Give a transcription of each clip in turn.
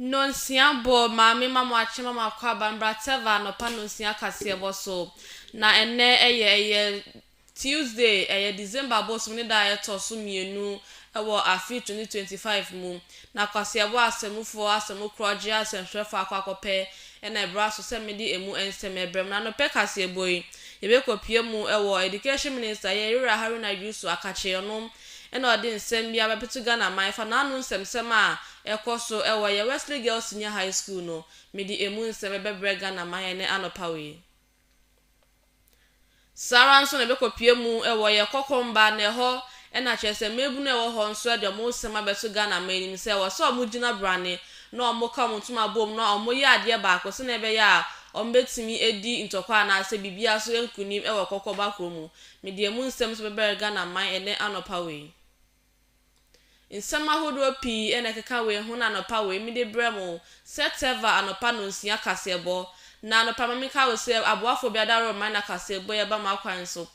Nnɔnsia bɔ Maame ma mo akye ma mo akɔ aba Mbrateva anɔpa nnɔnsia kaseɛbɔ so Na ɛnnɛ ɛyɛ ɛyɛ Tuesday, ɛyɛ December bosom ne da a ɛtɔ so mmienu wɔ afe 2025 mu, na Kwaseɛbɔ Asammufoɔ Asammukorɔgyeɛ Asɛmtwerɛfoɔ akɔ akɔpɛ na ɛbra so sɛ mede ɛmu nsɛm ɛbrɛ mo. Na anɔpɛ kaseɛbɔ yi, yɛbɛkɔpue mu wɔ Education Minister, Yɛn Wura Haruna Yusu Akakye, ɔno na ɔde nsɛm bi abɛtoto Ghana man fa n'ano nsɛmsɛm a ɛkɔ so wɔ yɛn Wesley Girls Senior High School no, mede ɛmu nsɛm bɛbrɛ Ghana man ɛnnɛ anɔpa wei. Saa ara nso na ɛbɛkɔpue mu wɔ yɛ kɔkɔmba na ɛhɔ na kyerɛ sɛ mmaabunu a ɛwɔ hɔ nso de wɔn nsɛm abɛto Ghana man anim sɛ ɛwɔ sɛ wɔgyina brane na wɔka wɔn ntoma bom na wɔyɛ adeɛ baako sɛdeɛ ɛbɛyɛ a wɔbɛtumi adi ntɔkwa anaasɛ biribiara so nkunim wɔ kɔkɔba korɔ mu. Mede emu nsɛm nso bɛbrɛ Ghana man ɛnnɛ anɔpa wei. Nsɛm ahodoɔ pii na ɛkeka wei ho na anɔpa wei mede brɛ mo sɛ Teva anɔpa nnɔnsia kaseɛbɔ. Na anɔpa ma menka wo sɛ aboafoɔ bi adaworo mman na kaseɛbɔ yi aba m'akwan so.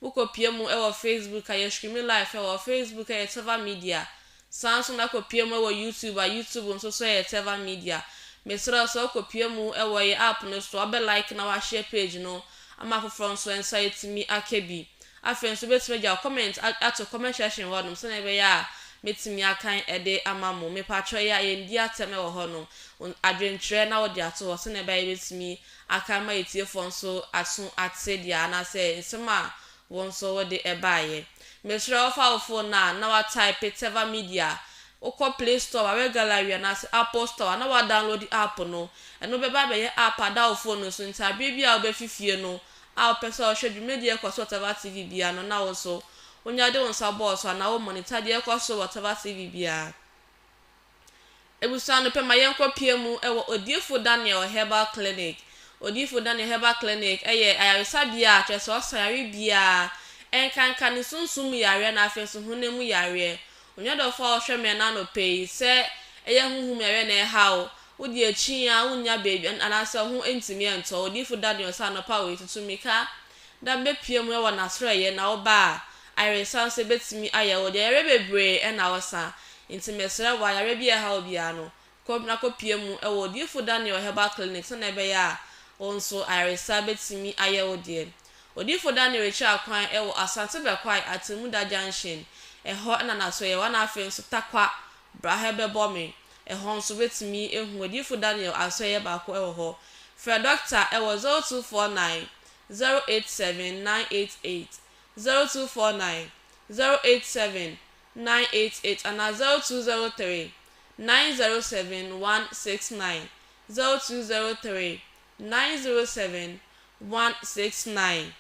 Wokɔ pie mu wɔ Facebook a, yɛ streame live wɔ Facebook ɛyɛ Teva Media. Saa nso na kɔ pie mu wɔ YouTube a, YouTube nso so ɛyɛ Teva Media. Mesrɛ wo sɛ wokɔ pie mu wɔ yɛn app no so a, wobɛ like na w'ashare page no ama afoforɔ nso nsa atumi aka bi. Afei nso wobɛtumi agya comment ato comment section hɔ nom sɛdeɛ ɛbɛyɛ a mɛtumi akan de ama mo. Mepakyɛw yɛ a yɛndi atɛm wɔ hɔ nom. Adwenkyerɛ na wode ato hɔ sɛdeɛ ɛbɛyɛ a yɛbɛtumi akan ma atiefoɔ nso aso ate deɛ anaasɛ nsɛm a wo nso wode baeɛ. Mesrɛ wo fa wo phone no a na wa type Teva Media, wokɔ play store a wɛ gallery anaasɛ apple store a na wa download app no. Ɛno bɛba abɛyɛ app ada wo phone no so nti aberɛ biara a wobɛfi fie no a wopɛ sɛ ɔhwɛ dwumadi a ɛkɔ so wɔ Tava TV biara no na wo nso wonya de wo nsa bɔɔ so anaa wo monita deɛ ɛkɔ so wɔ Tava TV biara. Abusua no pɛ ma yɛnkɔ pia mu wɔ Odiyifo Daniel Herbal Clinic. Odiyifo Daniel Herbal Clinic yɛ ayaresabea a kyerɛ sɛ ɔsa yare biara, ɛnkanka ne sunsum mu yareɛ na afei nso honam mu yareɛ. Onyɛ dɔfo a ɔhwɛ me ɛna anɔpɛ yi sɛ ɛyɛ honhom yareɛ na ɛreha wo, wodi akyi yi ara wonnya baabi anaasɛ wo ho ntumi ntɔ wo. Odiyifo Daniel sɛ anɔpa wei tutu mmirika da bɛpue mu wɔ n'aserɛyɛ na woba a, ayaresa nso ɛbɛtumi ayɛ wo. Deɛ yareɛ bebree na ɔsa, enti mesrɛ wo ayareɛ biara ɛha wo biara no, kɔ na kɔpue mu wɔ Odiyifo Daniel Herbal Clinic sɛnea ɛbɛyɛ a wo nso ayaresa betumi ayɛ wo deɛ. Odiyifo Daniel rekyerɛ akwan wɔ Asante Bɛkwae Atemmuda Junction, ɛhɔ na n'asoɛeɛ wɔ na afei nso Tarkwa, bra ha bɛbɔ me, ɛhɔ nso wobetumi ahu Odiyifo Daniel asoɛeɛ baako wɔ hɔ. Frɛ dɔkta wɔ 0249 087 988, 0249 087 nine eight eight anaa zero two zero three nine zero seven one six nine zero two zero three nine zero seven one six nine.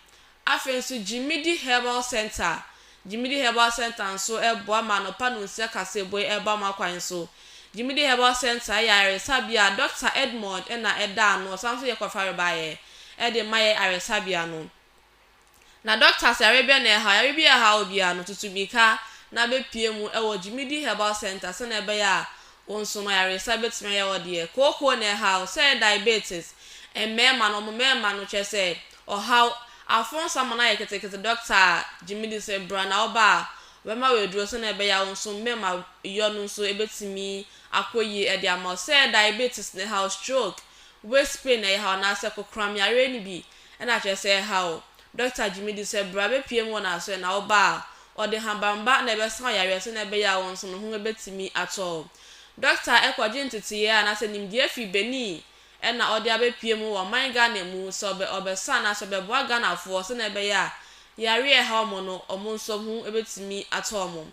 Afei nso Gyimidi Herbal Centre, Gyimidi Herbal Centre nso boa ma anɔpa nonsia kaseɛbɔ yi ba mo akwan so. Gyimidi Herbal Centre yɛ ayaresabea a Dɔkta Edmond na ɛda ano, ɔsan nso yɛ kwafarebaeɛ de ma yɛn ayaresabea no. Na Doctors yare bɛn na ɛhaw yare bi a ɛhaw obiara no? Tutu mmirika na bepue mu wɔ Gyimidi Herbal Centre sɛnea ɛbɛyɛ a wo nsono ayaresa betumi ayɛ wo deɛ. Kooko na ɛhaw, sɛ ɛyɛ diabetes, mmarima no, wɔn mmarima no, kyerɛ sɛ ɔhaw, aforo nsa ma no ayɛ ketekete Doctor Gyimidi se bra na wo ba a ɔbɛma wo aduro sɛnea ɛbɛyɛ a wo nsono mmarima yɔ no nso betumi akɔ yie de ama wo. Sɛ ɛyɛ diabetes na ɛhaw, stroke, waist pain na ɛhaw anaasɛ kokoram yare no bi, Ɛna kyerɛ sɛ ɛha wo. Dɔkta gyimi di sɛ bra bepue mu wɔ n'asoɛ na wo ba a, ɔde habanba na ɛbɛsa wo yareɛ sɛnea ɛbɛyɛ a wo nso no ho ɛbɛtumi atɔ wo. Dɔkta ɛkɔ gye nteteeɛ anaasɛ nimdeɛ firi benin ɛna ɔde abepue mu wɔ man Ghana mu sɛ ɔbɛ ɔbɛsa anaasɛ ɔbɛboa Ghanafoɔ sɛnea ɛbɛyɛ a yareɛ a ɛha wɔn no wɔn nso ho ɛbɛtumi atɔ wɔn.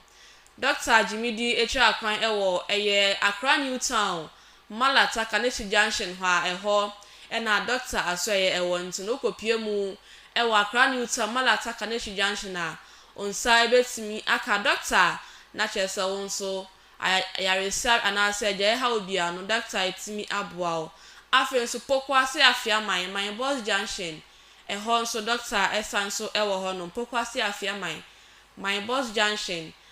Dɔkta gyimi di ɛkyerɛ akwan ɛwɔ ɛyɛ Accra New Town Mala Taka ne Shi Junction hɔ a ɛhɔ na Dɔkta Asoɛyɛ wɔ nti no wokɔ pue mu wɔ Accra New Town Mala Taka ne Shi Junction a wo nsa bɛtumi aka Dɔkta na kyerɛ sɛ wo nso ayaresa anaasɛ gyae haw biara no Dɔkta ɛtumi aboa wo. Afei nso Pokuase Afiaman, Main Bus Junction ɛhɔ nso Dɔkta san so wɔ hɔ nom Pokuase Afiaman, Main Bus Junction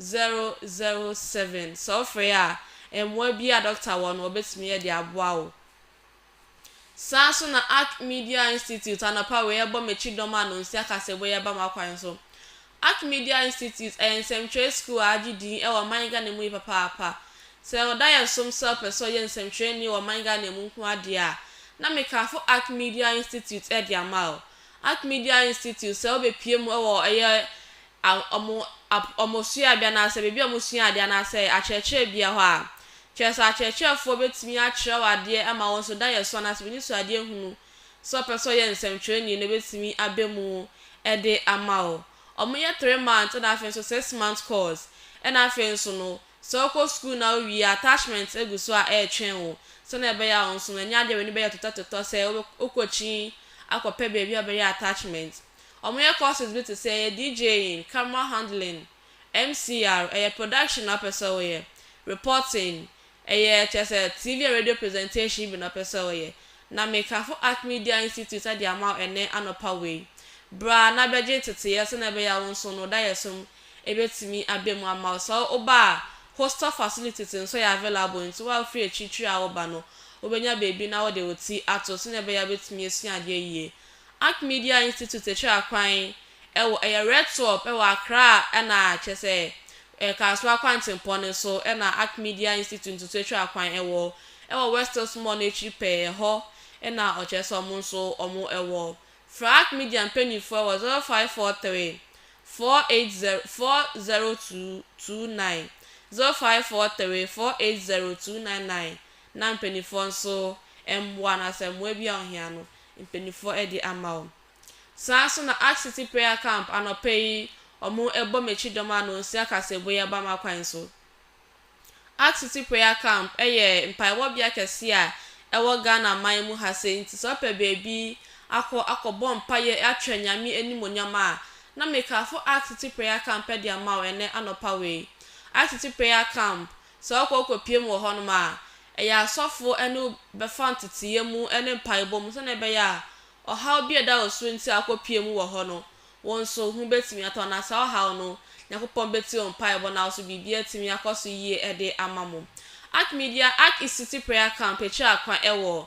007 Sɛ wofrɛ a, mmoa bi a dɔkta wɔ no wɔbɛtumi de aboa wo. Saa ara nso na Ark Media Institute anɔpa wei ɛrebɔ m'akyi dɔm a Nonsi akasɛebu yi reba m'akwan so. Ark Media Institute ɛyɛ nsɛmtwerɛ sukuu a agye din wɔ ɔman Ghana mu yi papaapa. Sɛ ɔda yɛn som sɛ wopɛ sɛ ɔyɛ nsɛmtwerɛni wɔ ɔman Ghana mu nko ara deɛ a, na mekafo Ark Media Institute de ama wo. Ark Media Institute, sɛ wobɛpue mu wɔ ɛyɛ wɔn wɔn suade anaasɛ baabi a wɔsua adeɛ anaasɛ akyerɛkyerɛ bea hɔ a, kyerɛ sɛ akyerɛkyerɛfoɔ bɛtumi akyerɛ wo adeɛ ama wo nso da yɛ so anaasɛ w'anisuadeɛ hunu sɛ wopɛ sɛ woyɛ nsɛmtwerɛni no bɛtumi aba mu de ama wo. Wɔyɛ three months ɛna afei nso six months course ɛna afei nso no sɛ wokɔ sukuu na wowie a attachment gu so a ɛretwɛn wo sɛdeɛ ɛbɛyɛ a wo nso no ɛnyɛ adeɛ a w'ani bɛyɛ totɔtotɔ sɛ wobɛ wokɔ akyi akɔpɛ baabi a wobɛyɛ attachment. Wɔyɛ courses bi te sɛ ɛyɛ DJing, camera handling, MCR, ɛyɛ production na wopɛ sɛ woyɛ, reporting, ɛyɛ kyerɛ sɛ TV and radio presentation bi na wopɛ sɛ woyɛ. Na mekafo Ark Media Institute ade ama wo ɛnnɛ anɔpa wei. Bra na bɛgye nteteeɛ sɛnea ɛbɛyɛ a wo nso no daeɛsom bɛtumi aba mu ama wo. Sɛ woba a, hostel facilities nso yɛ available nti wo a wofiri akyirikyiri a woreba no, wobɛnya baabi na wode wo ti ato sɛnea ɛbɛyɛ a wobɛtumi asua adeɛ yie. Ark Media Institute kyerɛ akwan wɔ ɛyɛ Red Swap wɔ Accra na kyerɛ sɛ ɛ Kasoa kwantempɔn no so na Ark Media Institute nso so twa akwan wɔ wɔ West Hills Mall no akyiri pɛɛ ɛhɔ na ɔkyerɛ sɛ ɔmo nso ɔmo wɔ. Frɛ Ark Media mpaninfoɔ wɔ 0543 480 40229, 0543 480 299, na mpaninfoɔ nso mmoa anaasɛ mmoa bi a ohia no mpaninfoɔ ɛde ama wo. Saa nso na Ark City Prayer Camp anɔpa yi wɔn ɛbɔ m'akyi dɔm ano nsia kaseɛbɔ yi aba m'akwan so. Ark City Prayer Camp ɛyɛ mpaebɔ bea kɛseɛ a ɛwɔ Ghana man mu ha sei nti sɛ wopɛ baabi akɔ akɔ bɔ mpaeɛ akyerɛ Nyame animuonyam a na mekafo Ark City Prayer Camp ɛde ama wo ɛnɛ anɔpa wei. Ark City Prayer Camp Sɛ ɔkɔ rekɔpue mu wɔ hɔnom a, ɛyɛ a asɔfo ne wo bɛfa nteteeɛ mu ne mpaebɔ mu sɛdeɛ ɛbɛyɛ a ɔhaw bi a ɛda wo so nti a wokɔpue mu wɔ hɔ no, wo nso ho bɛtumi atɔ wo. Na saa ɔhaw no, Onyankopɔn bɛtie wo mpaebɔ na wo nso biribi atumi akɔ so yie de ama mo. Archmedia, Ark Institute Prayer Camp kyerɛ akwan wɔ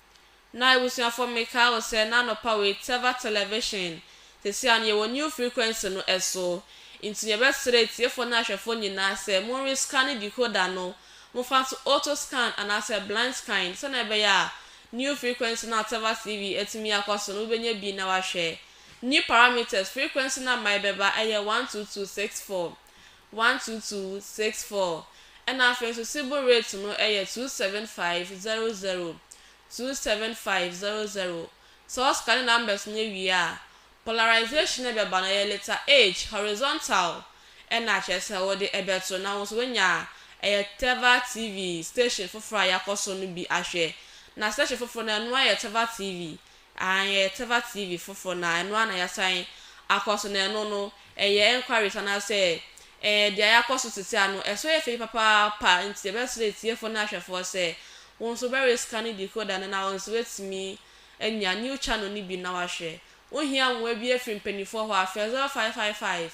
Na ebusuafo mekaa wo sɛ na anɔpa wei Teva television, sesei a no yɛwɔ new frequency no ɛso, nti nea yɛbɛsrɛ atiefo ne ahwɛfo nyinaa sɛ mo nwe scanne decoder no, mo fa nso auto scan anaasɛ blind scan sɛnea ɛbɛyɛ a new frequency no a Teva TV atumi akɔ so no wobɛnya bi na wahwɛ. New parameters, frequency number a ɛbɛba ɛyɛ one two two six four. one two two six four ɛna afei nso Sibu rate no yɛ two seven five zero zero two seven five zero zero sɛ wo scanne numbers no wie a polarization no bɛba no ɛyɛ letter H horizontal ɛna kyerɛ sɛ wo de ɛbɛto na wo nso wanya ɛyɛ Teva TV station foforɔ a yɛakɔ so no bi ahwɛ na station foforɔ no ɛno ayɛ Teva TV Aane ɛyɛ Teva TV foforɔ na ɛno ara na yasan akɔ so na ɛno no ɛyɛ enquiries anaasɛ ɛɛ deɛ yakɔ so sese ano ɛso yɛ fɛ papaapa nti yɛbɛsrɛ atiefoɔ ne ahwɛfoɔ sɛ wo nso bɛ rescane decoder no na wo nso watumi anya new channel no bi na wahwɛ wo hia mmoa bi afiri mpaninfoɔ hɔ a frɛ 0555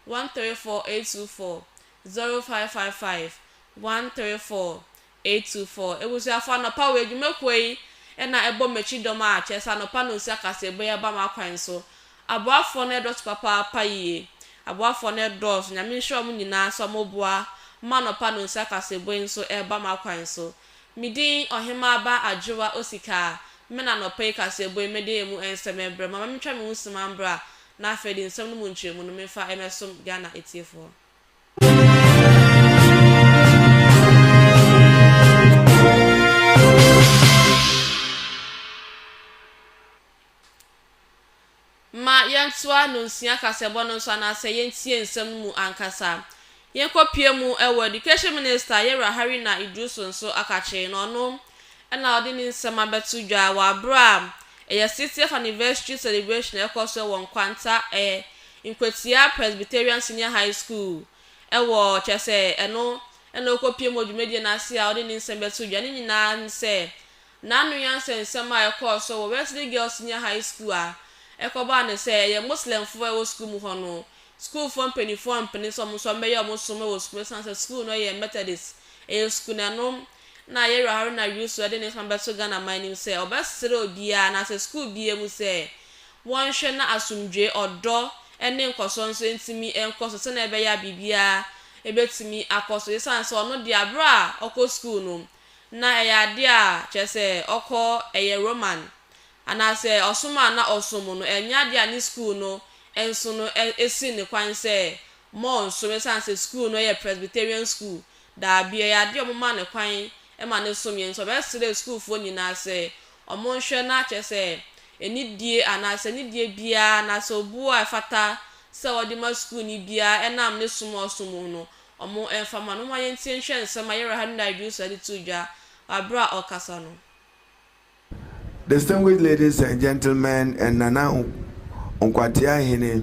134 824 0555 134 Etu fo, Ebusuafo, anɔpa wɔ edwuma kuo yi na ɛbɔ m'akyi dɔm a kyerɛ sɛ anɔpa no nsi akasɛɛbɔ yi aba m'akwan so. Aboafoɔ no ɛdɔso papaapa yie. Aboafoɔ no ɛdɔɔso, Nyame nhyira ɔmo nyinaa sɛ ɔmo boa ma anɔpa no nsi akasɛɛbɔ yi nso ɛɛba m'akwan so. Me din Ɔhemaa ba Adwoa Osikaa, me na anɔpa yi kasɛɛbɔ yi mɛde emu ɛnsɛm ɛɛbrɛ mo, ama mentwa me ho sima mbra na afei de nsɛm no mu nkyerɛmu no menfa ɛmɛsom Ghana atiefoɔ. Ma yɛntoa Nnonsua Kasɛbɔ no so anaasɛ yɛntie nsɛm no mu ankasa. Yɛnkɔpue mu wɔ Education Minister Yewura Harina Iddrisu nso akakyee na ɔno na ɔde ne nsɛm abɛto dwa wɔ aberɛ a ɛyɛ 60th Anniversary Celebration a ɛrekɔ so wɔ Nkwanta Nkwatia Presbyterian Senior High School wɔ, kyerɛ sɛ, ɛno na ɔrekɔpue mu wɔ dwumadie no ase a ɔde ne nsɛm bɛto dwa. Ne nyinaa ne sɛ, n'ano yɛ nsɛnsɛm a ɛkɔɔ so wɔ Wesley Girls Senior High School a ɛkɔbaa no sɛ ɛyɛ Muslimfoɔ a ɛwɔ sukuu mu hɔ no sukuufoɔ mpanimfoɔ ampene sɛ wɔn nso wɔmmɛyɛ wɔn som wɔ sukuu mu ɛsiane sɛ sukuu no yɛ Methodist ɛyɛ sukuu na ɛno na Yerah Haruna Yusu de ne nsɛm abɛto Ghana man anim sɛ ɔbɛsrɛ obiara anaasɛ sukuu biara mu sɛ wɔnhwɛ na asomdwoe, ɔdɔ, ne nkɔsoɔ nso ntumi nkɔ so sɛdeɛ ɛbɛyɛ a biribiara bɛtumi akɔ so ɛsiane sɛ ɔno deɛ berɛ a ɔkɔ sukuu no, na ɛyɛ adeɛ a kyerɛ sɛ ɔkɔ ɛyɛ Roman anaasɛ ɔsom a na ɔsom no ɛnyɛ adeɛ a ne sukuu no nso no si no kwan sɛ ma ɔnsom ɛsiane sɛ sukuu no yɛ Presbyterian sukuu, daabi, ɛyɛ adeɛ a wɔma no kwan ma no som yɛn nti ɔbɛsrɛɛ sukuufoɔ nyinaa sɛ Wɔnhwɛ na kyerɛ sɛ anidie anaasɛ nidie biara anaasɛ obuo a ɛfata sɛ wɔde ma sukuuni biara ɛnam ne som a ɔsom mu no, wɔmfa mma no. Momma yɛntie nhwɛ nsɛm a Yɛwura Henry Iddrisu de too dwa wɔ berɛ a ɔrekasa no. Distinguished ladies and gentlemen and Nana Nkwatia Hene.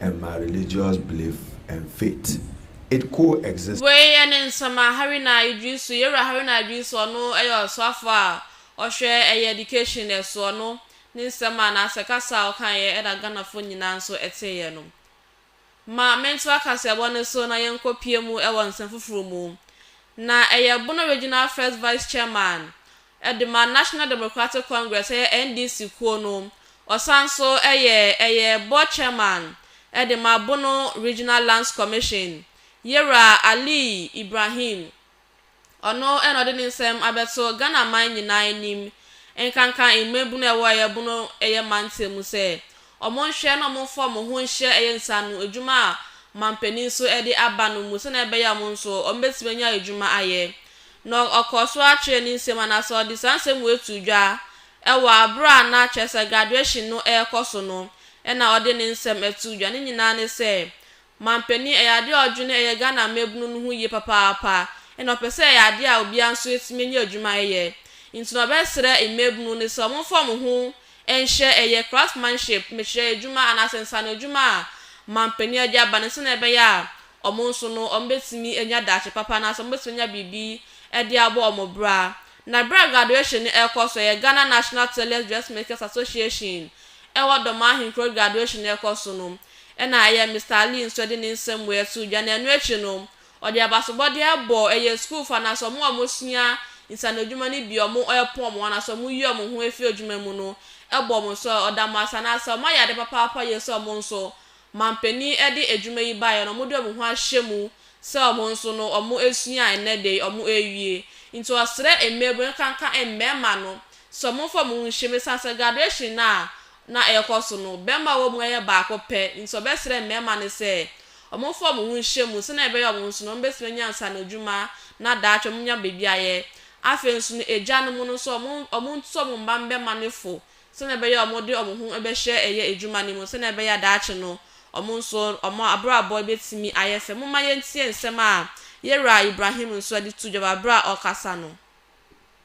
and my religious belief and faith it co-exist. Wei yɛ ne nsɛmma Haruna Iddrisu, yɛn wura Haruna Iddrisu, ɔno yɛ ɔsoafoɔ a ɔhwɛ ɛyɛ education so, ɔno ne nsɛm a anaasɛ kasa a ɔkaeɛ ɛna Ghanafoɔ nyinaa nso teeɛ no. Ma mentra kaseɛbɔ no so na yɛnkɔ pue mu wɔ nsɛm foforɔ mu. Na ɛyɛ Bono Regional First Vice Chairman, de ma National Democratic Congress, ɛyɛ NDC kuo no. Ɔsan nso yɛ ɛyɛ Board Chairman de ma Bono Regional Lands Commission. Yewura Ali Ibrahim, ɔno na ɔde ne nsɛm abɛto Ghana man nyinaa anim, nkanka mmabunu a ɛwɔ ɛyɛ Bono ɛyɛ mantam mu sɛ Wɔnhwɛ na wɔmfa wɔn ho nhyɛ ɛyɛ nsaano adwuma a ɔmampanin nso de aba no mu sɛnea ɛbɛyɛ a wɔn nso wɔbɛtumi anya adwuma ayɛ. Na ɔkɔɔ so ara kyerɛɛ ne nsam anaasɛ ɔde saa nsɛm wei too dwa wɔ bere a na kyerɛ sɛ graduation no rekɔ so no na ɔde ne nsɛm too dwa. Ne nyinaa ne sɛ, Manpanin, ɛyɛ adeɛ a ɔdwene ɛyɛ Ghana mmabunu no ho yie papaapa ɛna ɔpɛ sɛ ɛyɛ adeɛ a obiara nso atumi anya adwuma ayɛ. Nti na ɔbɛsrɛ mmabunu no sɛ wɔmfa wɔn ho nhyɛ ɛyɛ craftsmanship, mekyerɛ adwuma anaasɛ nsaano adwuma a manpanin a de aba no sɛdeɛ ɛbɛyɛ a wɔn nso no wɔbɛtumi anya daakye papa anaasɛ wɔbɛtumi anya biribi de abɔ wɔn bra. Na berɛ a graduation no ɛrekɔ so, ɛyɛ Ghana National Tailors Dressmakers Association ɛwɔ Dormaa Ahenkuro graduation no ɛrekɔ so no, Ɛnna ɛyɛɛ Mister Lee nso de ne nsɛm mu ɛtoo dwa, na ɛno akyi no, ɔde abasobɔdeɛ bɔɔ ɛyɛ sukuufo anaasɛ wɔn a wɔsua nsanodwuma no bi a wɔrepɔn wɔn anaasɛ wɔreyi wɔn ho afiri adwuma mu no bɔɔ wɔn sɛ ɔda mo ase anaasɛ wɔayɛ ade papaapa yie sɛ wɔn nso manpanin de adwuma yi baeɛ na wɔde wɔn ho ahyɛ mu sɛ wɔn nso no wɔasua a ɛnnɛ da yi wɔrewie nti ɔsrɛ mmaabunu ɛkanka mmarima no sɛ wɔmfa wɔn ho nhyɛ mu ɛsiane sɛ graduation no a na ɛrekɔ so no, bɛmma a wɔwɔ mu yɛ baako pɛ, nti wɔbɛsrɛ mmɛma no sɛ wɔmfa wɔn ho nhyɛ mu sɛnea ɛbɛyɛ wɔn nso no wɔbɛtumi anya nsaano adwuma na daakye wɔanya baabi ayɛ. Afei nso no, agyanom no nso wɔntu wɔn mma mmɛma no fo sɛnea ɛbɛyɛ a wɔde wɔn ho bɛhyɛ ɛyɛ adwuma no mu sɛnea ɛbɛyɛ a daakye no wɔn nso wɔn abrabɔ bɛtumi ayɛ fɛ. Momma yɛntie nsɛm a Yewura Ibrahim nso de to dwa wɔ berɛ a ɔrekasa no.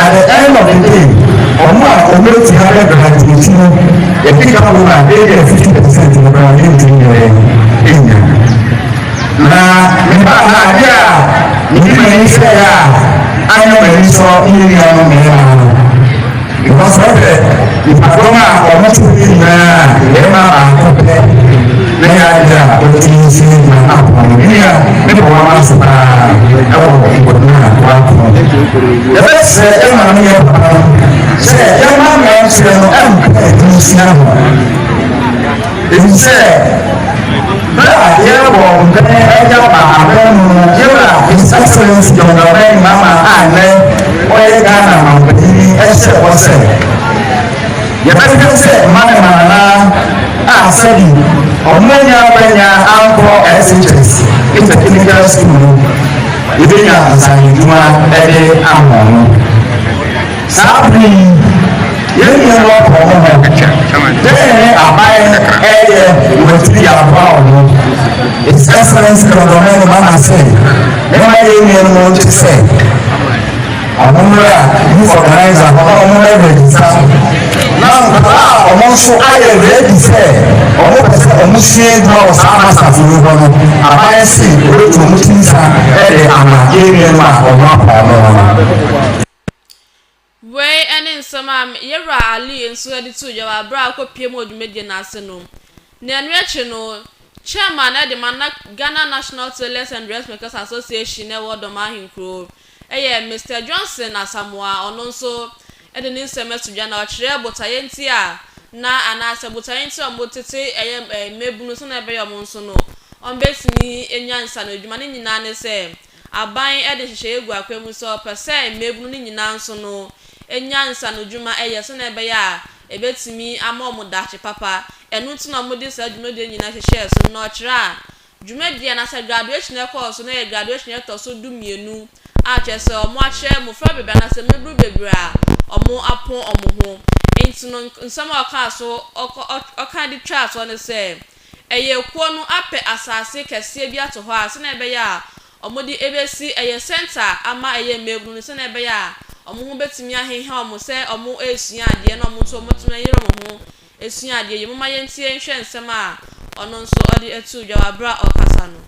At the end of the day, ɔmo a ɔmo eti ha bɛ graduate no, yɛkeka ho a ebi a fifty percent no koraa yɛntumi yɛ enya. Na meba ha adeɛ a mede m'ani hwɛɛ a anyɛ m'ani sɔ ne nuanom mmarima no, Nkɔsoɔ pɛ, nnipadɔm a wɔn to no nyinaa yɛ barima baako pɛ, na yɛ adeɛ a wɔtumi nsi ne dwa apɔn no nnua ne bɔwama so paa wɔ nkɔdum a wɔapɔn. Yɛbɛsrɛ yɛn maame ne yɛn papa no sɛ yɛmma mmeranteɛ no mpɛ nsia ho. Ɛfiri sɛ, berɛ a yɛrebɔ mpɛn de aba abɛn mu no, yɛn Wura His Excellency John Dramani Mahama a nnɛ ɔyɛ Ghana Manpanin yi hyɛɛ bɔ sɛ, Yɛbɛhwɛ sɛ mmanema anaa a sɛbi wɔannya akwanya ankɔ SHS Intertechnical School no, yɛbɛnya nsaanodwuma de ama wɔn. Saa bere yi, yɛn nua no atɔ ne ho. Dɛn ne aban reyɛ wɔ akyiri de aboa wɔn ho? His Excellency Dɔdɔmani Mahama se, Momma yɛn nuanom nte sɛ wɔmmra youth organizer hɔ na wɔmmɛrejista na nkwadaa a wɔn nso ayɛ ready sɛ wɔpɛ sɛ wɔsua adwuma wɔ saa masters yi hɔ no, aban se wɔbɛtu wɔn ti nsa de ama yɛn nuanom a wɔn apɔn no no. Wei ne nsɛm a yɛn Wura Ali nso de too dwa wɔ aberɛ a ɔkɔpuee mu wɔ dwumadie no ase no. Na ɛno akyi no, Chairman de ma na Ghana National Tailors and Dressmakers Association a ɛwɔ Doma ahenkuro yɛ Mister Johnson Asamoah a ɔno nso de ne nsɛm ato dwa na ɔkyerɛɛ botaeɛ nti a na anaasɛ botaeɛ nti a wɔtete ɛyɛ mmabunu sɛdeɛ ɛbɛyɛ a wɔn nso no wɔbɛtumi anya nsaano adwuma. Ne nyinaa ne sɛ. Aban de nhyehyɛeɛ gu akwan mu sɛ wɔpɛ sɛ mmaabunu no nyinaa nso no nya nsanodwuma yɛ sɛdeɛ ɛbɛyɛ a ɛbɛtumi ama wɔn daakye papa. Ɛno nti na wɔde saa dwumadie no nyinaa hyehyɛɛ so no, na wɔkyerɛ a dwumadie anaasɛ graduation a ɛkɔɔ so no yɛ graduation a ɛtɔ so dumienu a kyerɛ sɛ wɔakyerɛ mmɔfra bebree anaasɛ mmaabunu bebree a wɔapɔn wɔn ho. Nti no, nsɛm a ɔkaa so ɔka de twaa soɔ ne sɛ, Ɛyɛ kuo no apɛ asaase kɛseɛ bi ato hɔ a sɛdeɛ ɛbɛyɛ a wɔde bɛsi ɛyɛ centre ama ɛyɛ mmaabunu no sɛdeɛ ɛbɛyɛ a wɔn ho bɛtumi aheha wɔn sɛ wɔresua adeɛ na wɔn nso wɔatumi ayere wɔn ho asua adeɛ yi. Momma yɛntie nhwɛ nsɛm a ɔno nso ɔde too dwa wɔ berɛ a ɔrekasa no.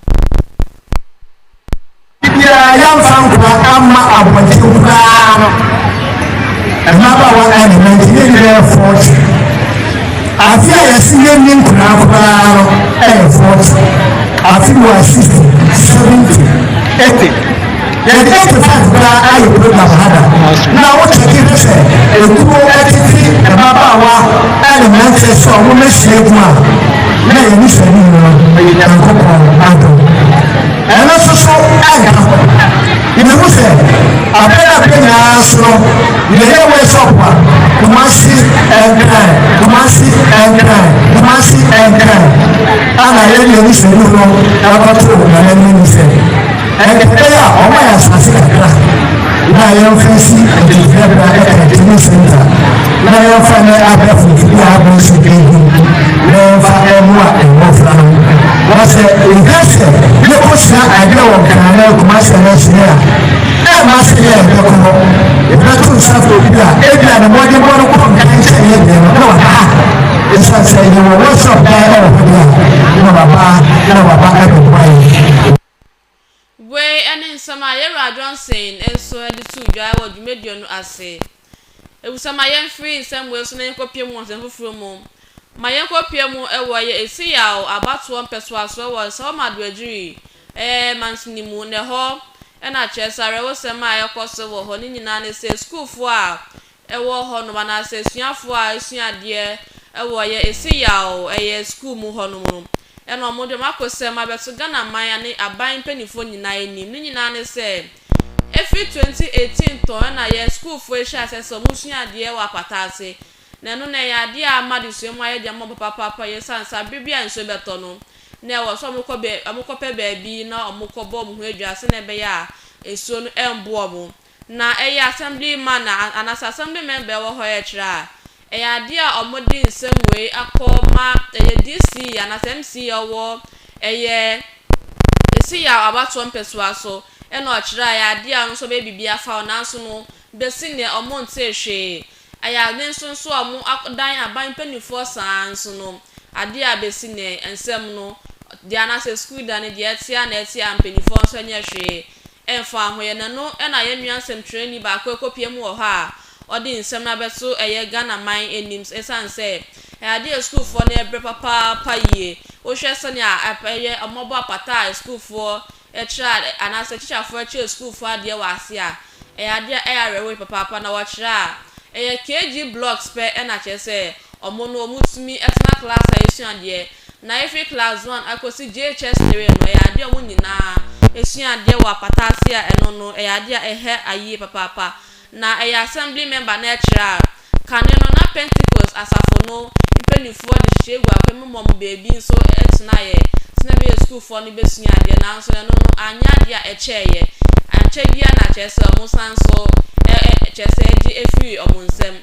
Da biara yɛmfa nkoa mma abɔnten koraa no, mmabaawa element no nyinaa yɛ fɔɔkye. Afe a yɛse yɛnni nkoa koraa no yɛ fɔɔkye. Afe wɔ 60, 70, 80. Yɛde 85 koraa ayɛ program ha da. Na wokyɛke hwɛ sɛ ekuo tete mmabaawa element sɛ wɔn ahyia mu a, na yɛn anisoade nyinaa yɛ Nyankopɔn adom. Ɛno nso so anka ho. Yɛbɛhu sɛ abɛn abɛn nyinaa so no, yɛyɛ workshop a Kumasi nkran, Kumasi nkran, Kumasi nkran, ana yɛn yɛn anisoade no ɛkɔto yɛn anim sɛ Ɛnde ɛbɛyɛ a wɔma yɛn asase kakra na yɛmfa nsi adwumayɛbea ne canteen center na yɛmfa nyɛ abɛɛfo mfidie a abɛn so bi ho na yɛmfa mmoa mmɔfra no. Wɔsɛ ɛhia sɛ yɛkɔsua adeɛ wɔ Nkran ne Kumasi anaasɛ a ɛmma sɛ yɛ yɛbɛkɔ hɔ yɛbɛto nsa fo bi a ebia ne mmɔdenbɔ no kɔ nkan kyɛn yɛ deɛ no na waba ha ɛsiane sɛ yɛwɔ workshop dan wɔ hɔ deɛ a na waba na waba abɛboa yɛn. Wei ne nsɛm a Yewura Johnson nso de too dwa wɔ dwumadie no ase. Efisɛ ma yɛmfiri nsɛm wei so na yɛnkɔpue mu wɔ nsɛm foforɔ mu. Ma yɛnkɔpue mu wɔ yɛ esi yaw, abatoɔ, mpɛsoasoɔ wɔ nsa hɔma do agyiri, ɛɛ, mansini mu. Na ɛhɔ na kyerɛ sɛ awerɛhosɛm a ɛrekɔ so wɔ hɔ no nyinaa ne sɛ sukuufoɔ a ɛwɔ hɔ nom anaasɛ asuafoɔ a asua adeɛ ɛwɔ yɛ ɛse yaw ɛyɛ sukuu mu hɔ nom no ɛna ɔmo de ɔmo akosɛm abɛto Ghana man ane aban mpaninfoɔ nyinaa anim ne nyinaa ne sɛ ɛfiri 2018 tɔn ɛna yɛ sukuufoɔ ɛhyɛ aseɛ sɛ ɔmo sua adeɛ wɔ apata ase na ɛno na ɛyɛ adeɛ a ama adesua mu ayɛ den ama ɔmo papaapa yɛ sane saa bere bi a nsuo bɛtɔ no na ɛwɔ sɛ ɔmo kɔ bɛ ɔmo kɔ pɛ baabi na ɔmo kɔ bɔ ɔmo ho adwaa sɛnea ɛbɛyɛ a nsuo no ɛmbo ɔmo Na ɛyɛ assemblyman a anaasɛ assembly member a ɛwɔ hɔ ɛrekyerɛ a, ɛyɛ adeɛ a wɔde nsɛm wei akɔ ma ɛyɛ DC anaasɛ MC a ɔwɔ ɛyɛ Seyaw abatoɔ mpɛsoa so na ɔkyerɛ a ɛyɛ adeɛ a ɔno nso ɔbɛyɛ biribi afa ho nanso no bɛsi nnɛ wɔntee hwee. Ɛyɛ adeɛ nso nso a wɔadan aban mpanimfoɔ saa ara nso no adeɛ a bɛsi nnɛ nsɛm no deɛ anaasɛ sukuu da no deɛ ɛte a na ɛte a mpanimfoɔ nso nyɛ hwee Ɛmfa ho, yɛn ɛno na yɛn nua nsɛmtwerɛni baako rekɔpia mu wɔ hɔ a ɔde nsɛm no abɛto ɛyɛ Ghana man anim ɛsiane sɛ ɛyɛ adeɛ a sukuufoɔ no rebrɛ papaapa yie. Wohwɛ sɛnea ɛyɛ wɔabɔ apata a sukuufoɔ kyerɛ ade anaasɛ tikyafoɔ kyerɛ sukuufoɔ adeɛ wɔ ase a, ɛyɛ adeɛ a ɛyɛ awerɛhoɔ papaapa na wɔkyerɛ a ɛyɛ kg blocks pɛ na kyerɛ sɛ wɔn no wɔtumi tena class a yɛsua adeɛ na efi Class One akosi JHS Three no, ɛyɛ adeɛ a wɔn nyinaa sua adeɛ wɔ apata ase a ɛno no, ɛyɛ adeɛ a ɛhɛ ayie papaapa. Na ɛyɛ Assembly Member na ɛkyerɛ a, kane no na Pentecost Asafo no mpaninfoɔ de hyehyɛ gu akwan mu ma wɔn baabi nso tenaeɛ sɛdeɛ ɛbɛyɛ a sukuufoɔ no bɛsua adeɛ, nanso ɛno no anyɛ adeɛ a ɛkyɛeɛ, ankyɛ biara na kyerɛ sɛ wɔsan nso kyerɛ sɛ ɛgye firii wɔn nsam.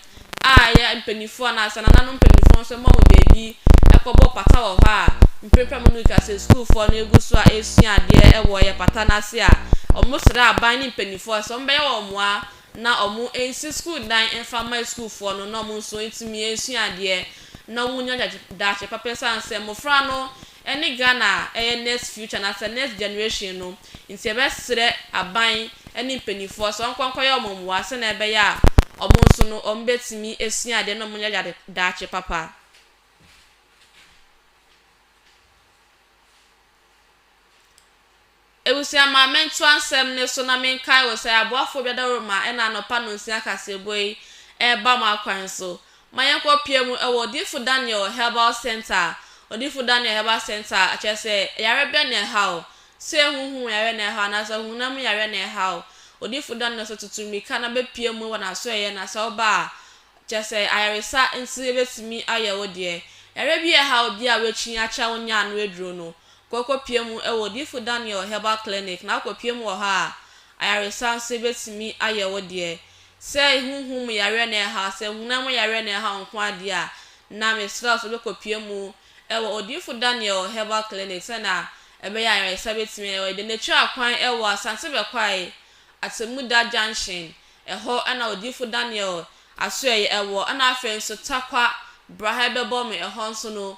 a ɛyɛ mpanyimfoɔ anaasɛ nananom mpanyimfoɔ nso ma wɔn baabi kɔbɔ pata wɔ hɔ a mprempren mo no ka sɛ sukuufoɔ no gu so a ɛresua adeɛ wɔ yɛ pata no ase a, wɔsrɛ aban ne mpanyimfoɔ sɛ wɔbɛyɛ wɔn mmoa na wɔnsi sukuu dan mfa mma sukuufoɔ no na wɔn nso ntumi nsua adeɛ na wɔnya daakye papa esiane sɛ mmofra no ɛne Ghana a ɛyɛ next future anaasɛ next generation no nti yɛbɛsrɛ aban ne mpaninfoɔ sɛ wɔnkɔ nkɔyɛ wɔn mmoa sɛdeɛ ɛbɛyɛ a wɔn nso no wɔn bɛtumi asua adeɛ na wɔn anya dade daakye papa. Ebusua ma mentoa nsɛm no so na menkae wo sɛ aboafoɔ bi adaworo ma ɛna anɔpa nonsia kaseɛbɔ yi reba mo akwan so. Momma yɛnkɔ pia mu wɔ Odiyifo Daniel Herbal Centre a Odiyifo Daniel Herbal Centre a kyerɛ sɛ yare bɛn na ɛha wo? Sɛ honhom yare na ɛha wo anaasɛ honam mu yare na ɛha wo, Odiyifo Daniel sɛ tutu mmirika na bɛpia mu wɔ n'asoɛeɛ na sɛ woba a, kyerɛ sɛ ayaresa nti yɛbɛtumi ayɛ wo deɛ. Yare bi a ɛha obi a wakyin akyɛ a wonnyaa ano aduro no, kɔkɔpia mu wɔ Odiyifo Daniel Herbal Clinic na akɔpia mu wɔ hɔ a, ayaresa nso betumi ayɛ wo deɛ. Sɛ honhom mu yareɛ na ɛreha wo, sɛ honam mu yareɛ na ɛreha wo nko ara deɛ a, na mesrɛ wo sɛ wobɛkɔpia mu wɔ Odiyifo Daniel Herbal Clinic sɛnea ɛbɛyɛ a ayaresa betumi ayɛ wo deɛ. Na twaa kwan wɔ Asante Bɛkwae, Atemmuda Junction, ɛhɔ na Odiyifo Daniel asoɛeɛ wɔ, ɛna afei nso Tarkwa, bra ha bɛbɔ me, ɛhɔ nso no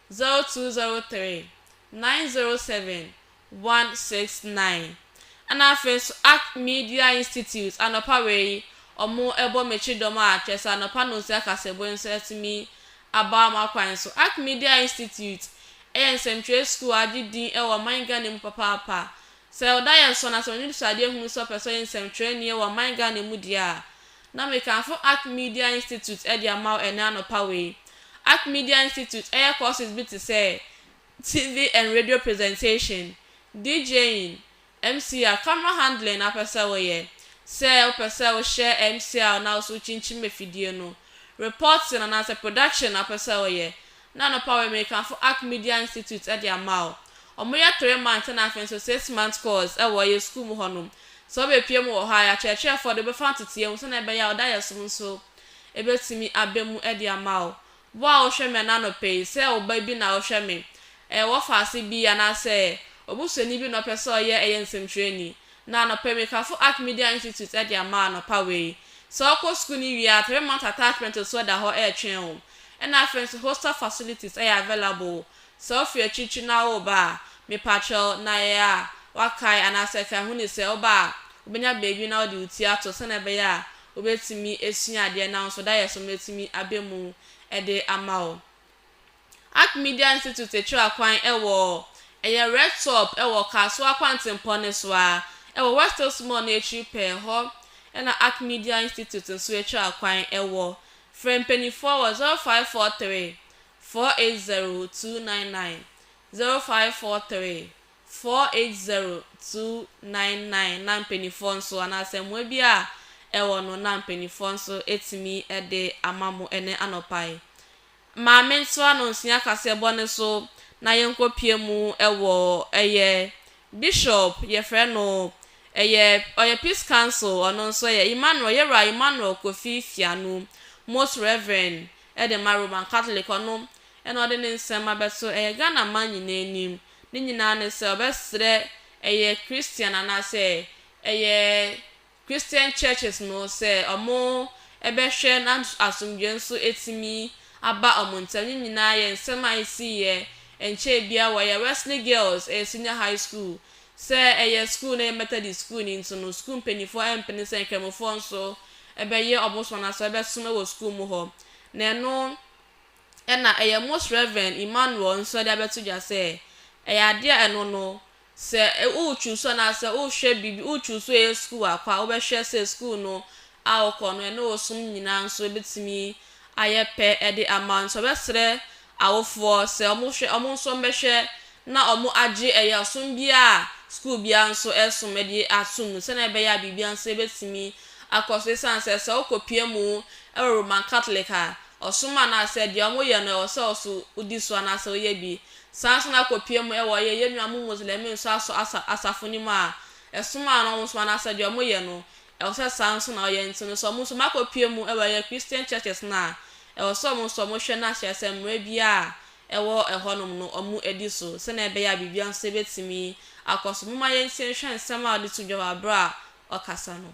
zero two zero three nine zero seven one six nine Ɛna afei nso Ark Media Institute anɔpa wei yi wɔbɔ me kyedɔm a kyerɛ sɛ anɔpa nonsia kasaboe nso atumi aba m'akwan so. Ark Media Institute yɛ nsɛntwerɛ sukuu a agye din wɔ ɔman Ghana mu papaapa. Sɛ wo da yɛ sɔ na sɛ w'ani so adeɛ hunu sɛ wopɛ sɛ woyɛ nsɛntwerɛni wɔ ɔman Ghana mu deɛ a, Na mekamfo Ark Media Institute de ama wo ɛnnɛ anɔpa wei. Ark Media Institute yɛ courses bi te sɛ, TV and Radio Presentation, DJing, MCR, Camera Handling na wopɛ sɛ woyɛ. Sɛ wopɛ sɛ wohyɛ MCR na wo nso wokyinkyim afidie no, Reporting anaasɛ Production na wopɛ sɛ woyɛ, na anɔpa wɔ Amerikanfo Ark Media Institute de ama wo. Wɔyɛ three month na afei nso six month course wɔ yɛn sukuu mu hɔnom. Sɛ wobepue mu wɔ hɔ a, yɛakyerɛkyerɛ fɔ de wobɛfa nteteɛ mu sɛnea ɛbɛyɛ a wo daeɛsom nso bɛtumi aba mu de ama wo. Wo a wohwɛ me ɛna anɔpa yi, sɛ wo ba bi na wohwɛ me, ɛyɛ wɔfaase bi anaasɛ obusuani bi na ɔpɛ sɛ ɔyɛ ɛyɛ nsɛmtwerɛni, Na anɔpa yi Mekafo Ark Media Institute de ama anɔpa wei. Sɛ wokɔ sukuu no wie a, three month attachment nso da hɔ retwɛn wo. Ɛna afei nso hostel facilities yɛ available. Sɛ wofi akyirikyiri na woreba a, mepakyɛw, na yɛ a woakae anaasɛ kae hu ni sɛ woba a, wobenya baabi na wode wo ti ato sɛnea ɛbɛyɛ a wobetumi asua adeɛ na wo nso dayɛ so no atumi aba mu de ama wo. Art Media Institute kyerɛ kwan wɔ ɛyɛ Red Top wɔ Kasoa kwantempɔn no so ara wɔ West Hills Mall no akyiri pɛɛ hɔ na Art Media Institute nso kyerɛ kwan wɔ. Frɛ mpanimfoɔ wɔ 0543 480 299, 0543 480 299 na mpanimfoɔ nso anaasɛ mmoa bi a ɛwɔ no na mpanimfoɔ nso atumi de ama mo ɛnnɛ anɔpa yi. Maame ntoa no nsua kaseɛbɔ no so na yɛnkɔ pie mu wɔ ɛyɛ Bishop yɛfrɛ no ɛyɛ ɔyɛ peace council ɔno nso ɛyɛ Emmanuel yɛwura Emmanuel Kofi Fianu most reverend ɛde ma Roman Catholic ɔno ɛna ɔde ne nsɛm abɛto ɛyɛ Ghana man nyinaa anim ne nyinaa ne sɛ ɔbɛsrɛ ɛyɛ Christian anaasɛ ɛyɛ Christian churches no sɛ ɔmo bɛhwɛ na asomdwoe nso atumi aba ɔmo ntam. Ne nyinaa yɛ nsɛm a esiiɛ ɛnkyɛɛ biaa wɔ yɛ Wesley Girls ɛyɛ senior high school. Sɛ ɛyɛ school na ɛyɛ Methodist school no nti no school mpaninfoɔ ɛmpene sɛ nkramofoɔ nso ɛbɛyɛ ɔmo som anaa sɛ ɔbɛsom wɔ school mu hɔ. Na ɛno ɛna ɛyɛ Most Reverend Emmanuel nso ɛde abɛto dwa sɛ ɛyɛ adeɛ a ɛno no Sɛ worekyuusu anaasɛ worehwɛ biribi, worekyuusu ɛyɛ sukuu akɔ a, wobɛhwɛ sɛ sukuu no a wokɔ no, ɛne wo som nyinaa nso bɛtumi ayɛ pɛ de ama wo. Nti wɔbɛsrɛ awofoɔ sɛ wɔhwɛ, wɔn nso wɔbɛhwɛ na wɔagye ɛyɛ ɔsom biara a sukuu biara nso resom de atom mu sɛdeɛ ɛbɛyɛ a biribiara nso bɛtumi akɔ so. Ɛsiane sɛ sɛ wokɔpue mu wɔ Roman Catholic a, ɔsom anaasɛ deɛ wɔyɛ no, ɛwɔ sɛ wo nso wodi so anaasɛ woyɛ bi. Saa nso na kɔpie mu ɛwɔ yɛ yɛnua mo Muslɛmi nso asɔ asa asafo no mu a ɛsom a na ɔmo som anaa sɛ deɛ ɔmo yɛ no ɛwɔ sɛ saa nso na ɔyɛ nti no sɛ ɔmo nso ma kɔpie mu ɛwɔ yɛ Christian churches no a ɛwɔ sɛ ɔmo nso ɔmo hwɛ na kyerɛ sɛ mmerɛ biara a ɛwɔ ɛhɔ nom no ɔmo ɛdi so sɛnea ɛbɛyɛ a biribiara nso ɛbɛtumi akɔ so momma yɛntie nhwɛ nsɛm a ɔde to dwa wɔ aberɛ a ɔkasa no.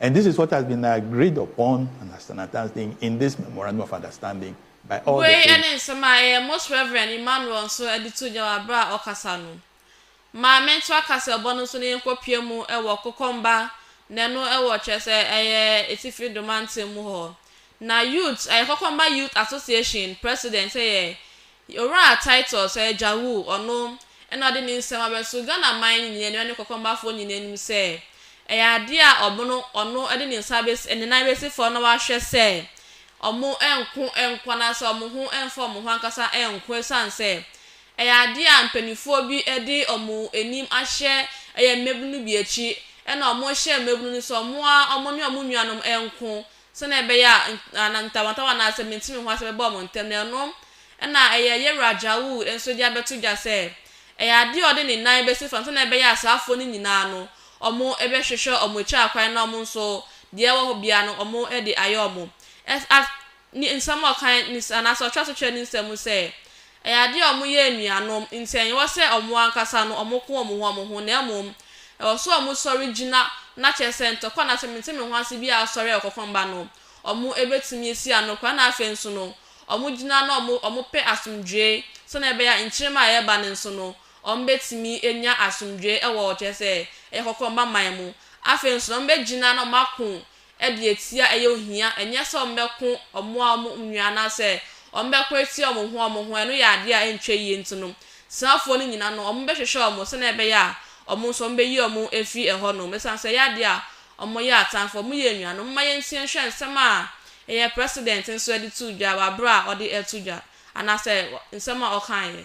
And this is what has been agreed upon and as an understanding in this memorandum of understanding by all the Wei three. ne nsɛm a ɛyɛ Most Reverend Emmanuel nso de too gya wɔ aberɛ a ɔkasa no. Ma mento aka sɛ bɔ no nso no yɛnkɔ pue mu wɔ Kokomba na ɛno wɔ kyerɛ sɛ ɛyɛ Atifi Dormanton mu hɔ. Na Youth ɛyɛ Kokomba Youth Association President yɛ Owura Titus Ajawu, ɔno na ɔde ne nsɛm abɛto Ghana man nyinaa anim ne Kɔkɔmbafoɔ nyinaa anim sɛ, ɛyɛ adeɛ a ɔmono ɔno de ne nsa bɛsi ne nan bɛsi fam na wahwɛ sɛ wɔnko nko anaasɛ wɔn ho mfa wɔn ho ankasa nko ɛsiane sɛ ɛyɛ adeɛ a mpaninfoɔ bi de wɔn anim ahyɛ ɛyɛ mmabunu bi akyi ɛna wɔhyɛ mmabunu no sɛ wɔn ara wɔne wɔn nuanom nko sɛnea ɛbɛyɛ a na ntawantawa anaa sɛ mente me ho ase bɛba wɔn ntam, na ɛno na ɛyɛ Yerah Ajawu nso de abɛto dwa sɛ ɛyɛ adeɛ a ɔde ne nan bɛsi fam sɛnea ɛbɛyɛ a saafoɔ no nyinaa no wɔbɛhwehwɛ wɔn akyiri akwan na wɔn nso deɛ ɛwɔ hɔ biara no wɔde ayɛ wɔn. Ɛs at ne nsɛm a ɔkae ne anaasɛ ɔtoa so kyerɛ ne nsɛm mu sɛ Ɛyɛ adeɛ a wɔyɛ anuanom nti ɛnyewɔ sɛ wɔn ankasa no wɔn ko wɔn ho wɔn ho na mmom ɛwɔ sɛ wɔn sɔre gyina na kyerɛ sɛ ntɔkwa anaa sɛ mente me ho ase biara a asɔre a wɔkɔkɔm ba no wɔn bɛtumi asi ano koraa na afei nso no wɔn gyina na wɔn wɔn pɛ asomdwoeɛ sɛdeɛ ɛbɛyɛ a nkyerema a ɛreba no nso no wɔn bɛtumi anya asomdwoeɛ wɔ kyerɛ sɛ ɛyɛ kɔkɔmba man mu afei nso na wɔn bɛgyina na wɔn ako de atia ɛyɛ ohia, ɛnyɛ sɛ wɔbɛko wɔn a wɔn nua anaasɛ wɔbɛko atia wɔn ho wɔn ho, ɛno yɛ adeɛ a ɛntwa yie nti no, Sinafoɔ no nyina no, wɔbɛhwehwɛ wɔn sɛdeɛ ɛbɛyɛ a wɔn nso wɔbɛyi wɔn afiri ɛhɔ nom, ɛsiane sɛ ɛyɛ adeɛ a wɔyɛ atamfoɔ, wɔyɛ anuanom. Momma yɛntie nhwɛ nsɛm a ɛyɛ President nso de too dwa wɔ aberɛ a ɔde reto dwa, anaasɛ nsɛm a ɔkaeɛ.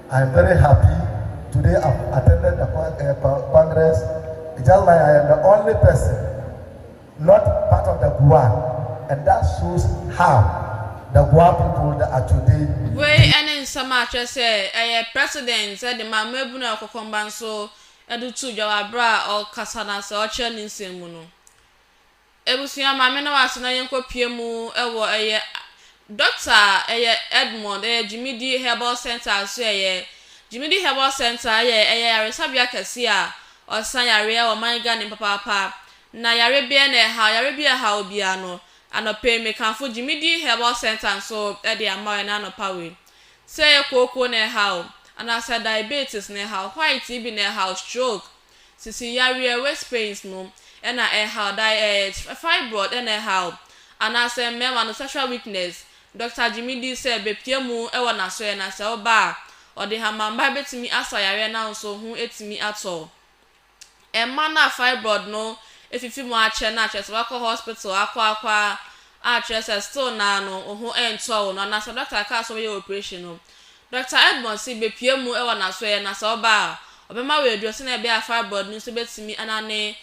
I am very happy today I have attended the congress it's just like I am the only person not part of the Gua and that shows how the Gua people that are today. Wei ne nsɛm a kyerɛ sɛ ɛyɛ President de maa mmaabunu a wɔkɔkɔ mba nso de too dwa wɔ bere a ɔrekasa no ase a ɔrekyerɛ ne nsɛm mu no. Abusua ma me ne w'ase na yɛnkɔ pie mu wɔ ɛyɛ Dɔkta ɛyɛ Edmond ɛyɛ Gyimidi Herbal Centre aso ɛyɛ Gyimidi Herbal Centre ɛyɛ ɛyɛ yaresabea kɛse a ɔsa yareɛ wɔ man Ghana mu papaapa na yareɛ biara na ɛhaw yareɛ biara ɛhaw obiara no anɔpa yi mekamfo Gyimidi Herbal Centre nso de ama wo ɛnɛ anɔpa wei sɛ ɛyɛ kooko na ɛhaw wo anaasɛ diabetes na ɛhaw wo white bi na ɛhaw wo stroke Sisi yareɛ waist pains no na ɛhaw da ɛɛ fibroid na ɛhaw anaasɛ mmarima no sexual weakness Doctor gyimi di sɛ bɛpia mu wɔ nasoɛ na sɛ woba a ɔde hamamba bɛtumi asa yareɛ no nso ho ɛtumi atɔ ɛmma no a fibroid no afifi mu akyɛ no a kyerɛ sɛ wakɔ hospital akɔ akɔ a kyerɛ sɛ still no ara no wo ho ɛntɔ wo no anaasɛ doctor kaa sɛ wobɛyɛ operation no Dɔkta Edmond se bepue mu wɔ n'asoɛeɛ na sɛ ɔba a, ɔbɛma wo aduro sɛdeɛ ɛbɛyɛ a fibroid no nso bɛtumi anane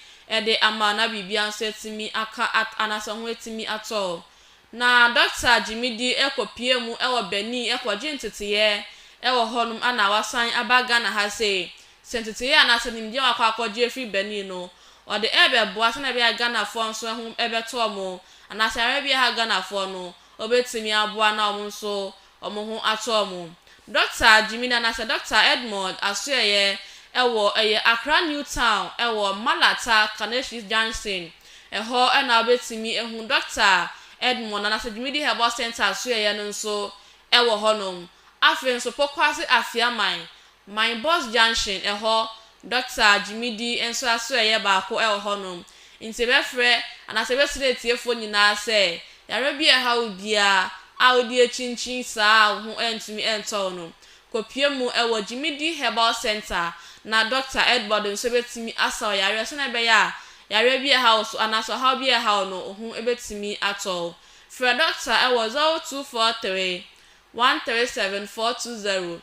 de ama wo na biribiara nso atumi aka at anaasɛ wo ho atumi atɔ wo. Na Dɔkta Gyimidi kɔpuee mu wɔ Benin kɔgyee nteteeɛ wɔ hɔnom ɛna wasan aba Ghana ha sei. Sɛ nteteeɛ anaasɛ nimdeɛ a wakɔ akɔgye afiri Benin no, ɔde rebɛboa sɛdeɛ ɛbɛyɛ a Ghanafoɔ nso ho bɛtɔ wɔn anaasɛ yareɛ bi aha Ghanafoɔ no, ɔbɛtumi aboa na wɔn nso wɔn ho ato wɔn. Dɔkta Jimina anaasɛ Dɔkta Edmond Asoɛyɛ wɔ ɛyɛ Accra New Town wɔ Malata Kaneshie Junction. Ɛhɔ na wobɛtumi ahu Dɔkta Edmond anaasɛ Dwumidi Herbal Centre Asoɛyɛ no nso wɔ hɔnom. Afei nso Pokuase Afiaman Mine Bus Junction hɔ Dɔkta Gyimidi nso asoɛeɛ baako wɔ hɔnom, nti yɛbɛfrɛ anaasɛ yɛbɛsrɛ atiefoɔ nyinaa sɛ yareɛ bi a ɛha wo biara a wode akyinkyin saa a wo ho antumi antɔ wo no, kɔpue mu wɔ Gyimidi Herbal Centre na Dɔkta Edward nso bɛtumi asa wo yareɛ sɛdeɛ ɛbɛyɛ a yareɛ bi a ɛha wo so anaasɛ ɔhaw bi a ɛha wo no wo ho bɛtumi atɔ wo. Frɛ Dɔkta wɔ 0243 137 420.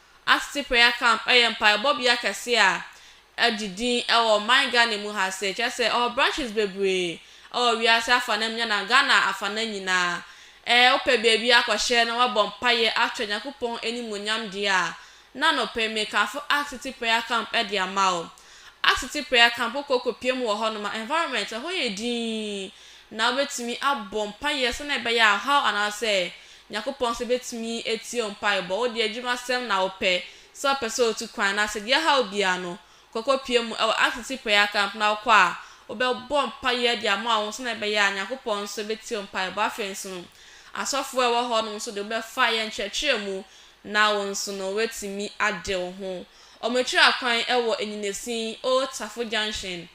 Asete Prayer Camp yɛ mpaebɔbea kɛse a agye din wɔ ɔman Ghana mu ha ase, kyerɛ sɛ ɔwɔ branches bebree wɔ wiase afanan nyinaa na Ghana afanan nyinaa. Ɛɛ, wopɛ baabi akɔhyɛ na woabɔ mpaeɛ akyerɛ Nyankopɔn animuonyam deɛ a, na nope mekamfo Asete Prayer Camp de ama wo. Asete Prayer Camp, wokɔ kɔpia mu wɔ hɔnom a, environment, ɛhɔ yɛ dinn, na wobɛtumi abɔ mpaeɛ sɛdeɛ ɛbɛyɛ a ɔhaw anaasɛ Nyankopɔn nso betumi atie wo mpaebɔ. Wo deɛ adwumasɛm na wopɛ, sɛ wopɛ sɛ otu kwan na sɛ deɛ ɛhaw biara no, kɔkɔ pue mu wɔ RCC Prayer Camp na wokɔ a, wobɛbɔ mpaeɛ de ama wo ho sɛdeɛ ɛbɛyɛ a Nyankopɔn nso betie wo mpaebɔ. Afei nso no, asɔfoɔ a ɛwɔ hɔ nom nso de wobɛfa yɛn nkyerɛkyerɛ mu na wo nso no woatumi ade wo ho. Wɔatwira kwan wɔ Anyinasin, Old Tafo Junction.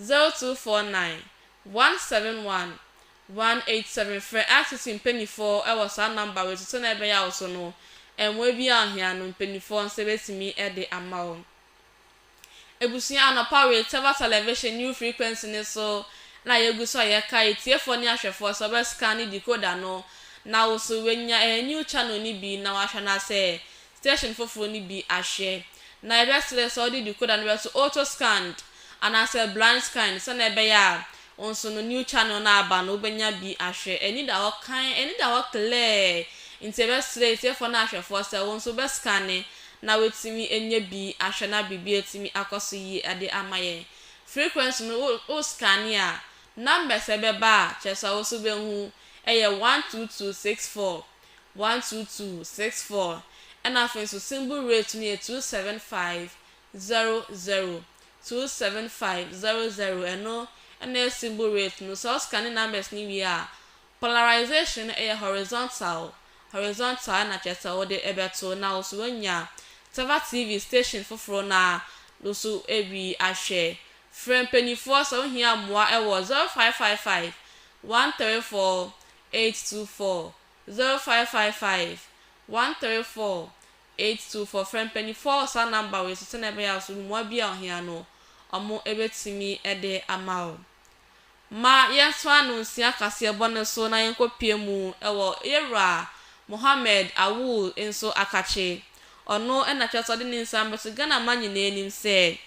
Zero two four nine, one seven one, one eight seven Frɛ RCC mpaninfoɔ wɔ saa number wei so sɛdeɛ ɛbɛyɛ a wo so no mmoa bi a ohia no mpaninfoɔ nsa bɛtumi de ama wo. Abusua anɔpa wei Teva Television new frequency no so na yɛgu so a yɛkae atiefoɔ ne ahwɛfoɔ sɛ wɔbɛ scanne decoder no na wo so wanya ɛyɛ new channel no bi na wahwɛ na sɛ station foforo no bi ahwɛ, na yɛbɛsrɛ sɛ wode decoder no bɛto auto-scanned anaasɛ blind scanned sɛnea ɛbɛyɛ a wo nso no new channel no a aba no wobɛnya bi ahwɛ. Ani da hɔ kann, ani da hɔ klɛɛ, nti yɛbɛsrɛ atiefoɔ ne ahwɛfoɔ sɛ wo nso wobɛscanne na woatumi anya bi ahwɛ na biribi atumi akɔ so yie de ama yɛn. Frequency no, wo wo scanne a, numbers a ɛbɛba a kyerɛ sɛ wo nso wobɛhu yɛ one two two six four. one two two six four ɛna afei nso symbol rate no yɛ two seven five zero zero two seven five zero zero ɛno ɛna yɛ symbol rate no sɛ ɔscanne numbers no wie a polarization no ɛyɛ horizontal horizontal ɛna kyerɛ sɛ wode ɛbɛto na woso wanya Tava TV station foforɔ na woso ɛbi ahwɛ frɛ mpanyinfoɔ sɛ wohia mmoa ɛwɔ zero five five five one three four eight two four zero five five five one three four eight two four Frɛ mpaninfoɔ wɔ saa number wei so sɛdeɛ ɛbɛyɛ a so mmoa bi a ɔhia no ɔmo ɛbɛtumi ɛde ama wo. Ma yɛn to ano nsia kaseɛ bɔ no so na yɛn kɔ pue mu ɛwɔ yɛ wura Mohammed Awul nso akakye. Ɔno ɛna kyerɛ sɛ ɔde ne nsa bɛto Ghana man nyinaa anim sɛ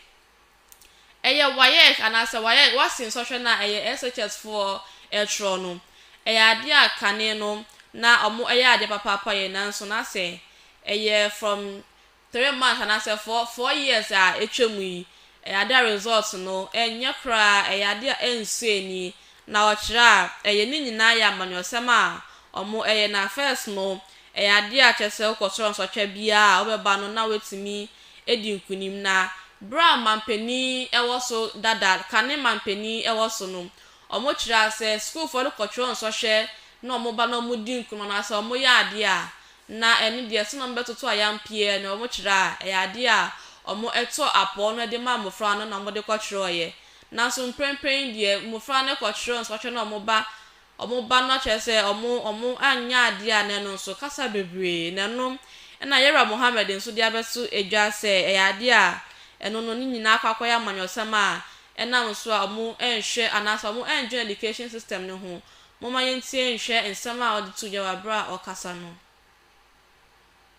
Ɛyɛ WAEC anaasɛ WAEC, W'asen Sɔhwɛ no a ɛyɛ SHS foɔ ɛtwerɛ no. Ɛyɛ adeɛ a kane no na ɔmo ɛyɛ adeɛ papaapa yɛ nanso na sɛ ɛyɛ from three months anaasɛ four four years a atwa mu yi ɛyɛ adeɛ a result no ɛnyɛ koraa ɛyɛ adeɛ a ɛnsɔ ani na ɔkyerɛ a ɛyɛ ne nyinaa yɛ amanyɔsɛm a ɔmo ɛyɛ na first no ɛyɛ adeɛ a kyerɛ sɛ wokɔ soro nsɔhwɛ biaa a wobɛba no na watumi adi nkonim, na bere a manpanin wɔ so dada, kane manpanin wɔ so no, wɔkyerɛɛ sɛ sukuufoɔ no kɔtwerɛ nsɔhwɛ na wɔba na wɔdi nkono anaasɛ wɔyɛ adeɛ a, na ɛno deɛ sɛdeɛ wɔbɛtoto ayampeɛ na wɔkyerɛ a, ɛyɛ adeɛ a wɔto apɔw na wɔde ma mmofra no na wɔde kɔtwerɛeɛ. Nanso mprempren deɛ, mmofra no kɔtwerɛ nsɔhwɛ na wɔba Wɔn ba no akyerɛ sɛ wɔn wɔn anyɛ adeɛ a na ɛno nso kasa bebree na ɛno na Yɛwura Mohammed nso de abɛso edwa sɛ ɛyɛ adeɛ a ɛno no ne nyinaa akɔ akɔyɛ amanyɔsɛm a ɛnam so a wɔn ɛnhwɛ anaasɛ wɔn ɛndwene education system no ho Momma yɛntie nhwɛ nsɛm a ɔde too dwa wɔ aberɛ a ɔrekasa no.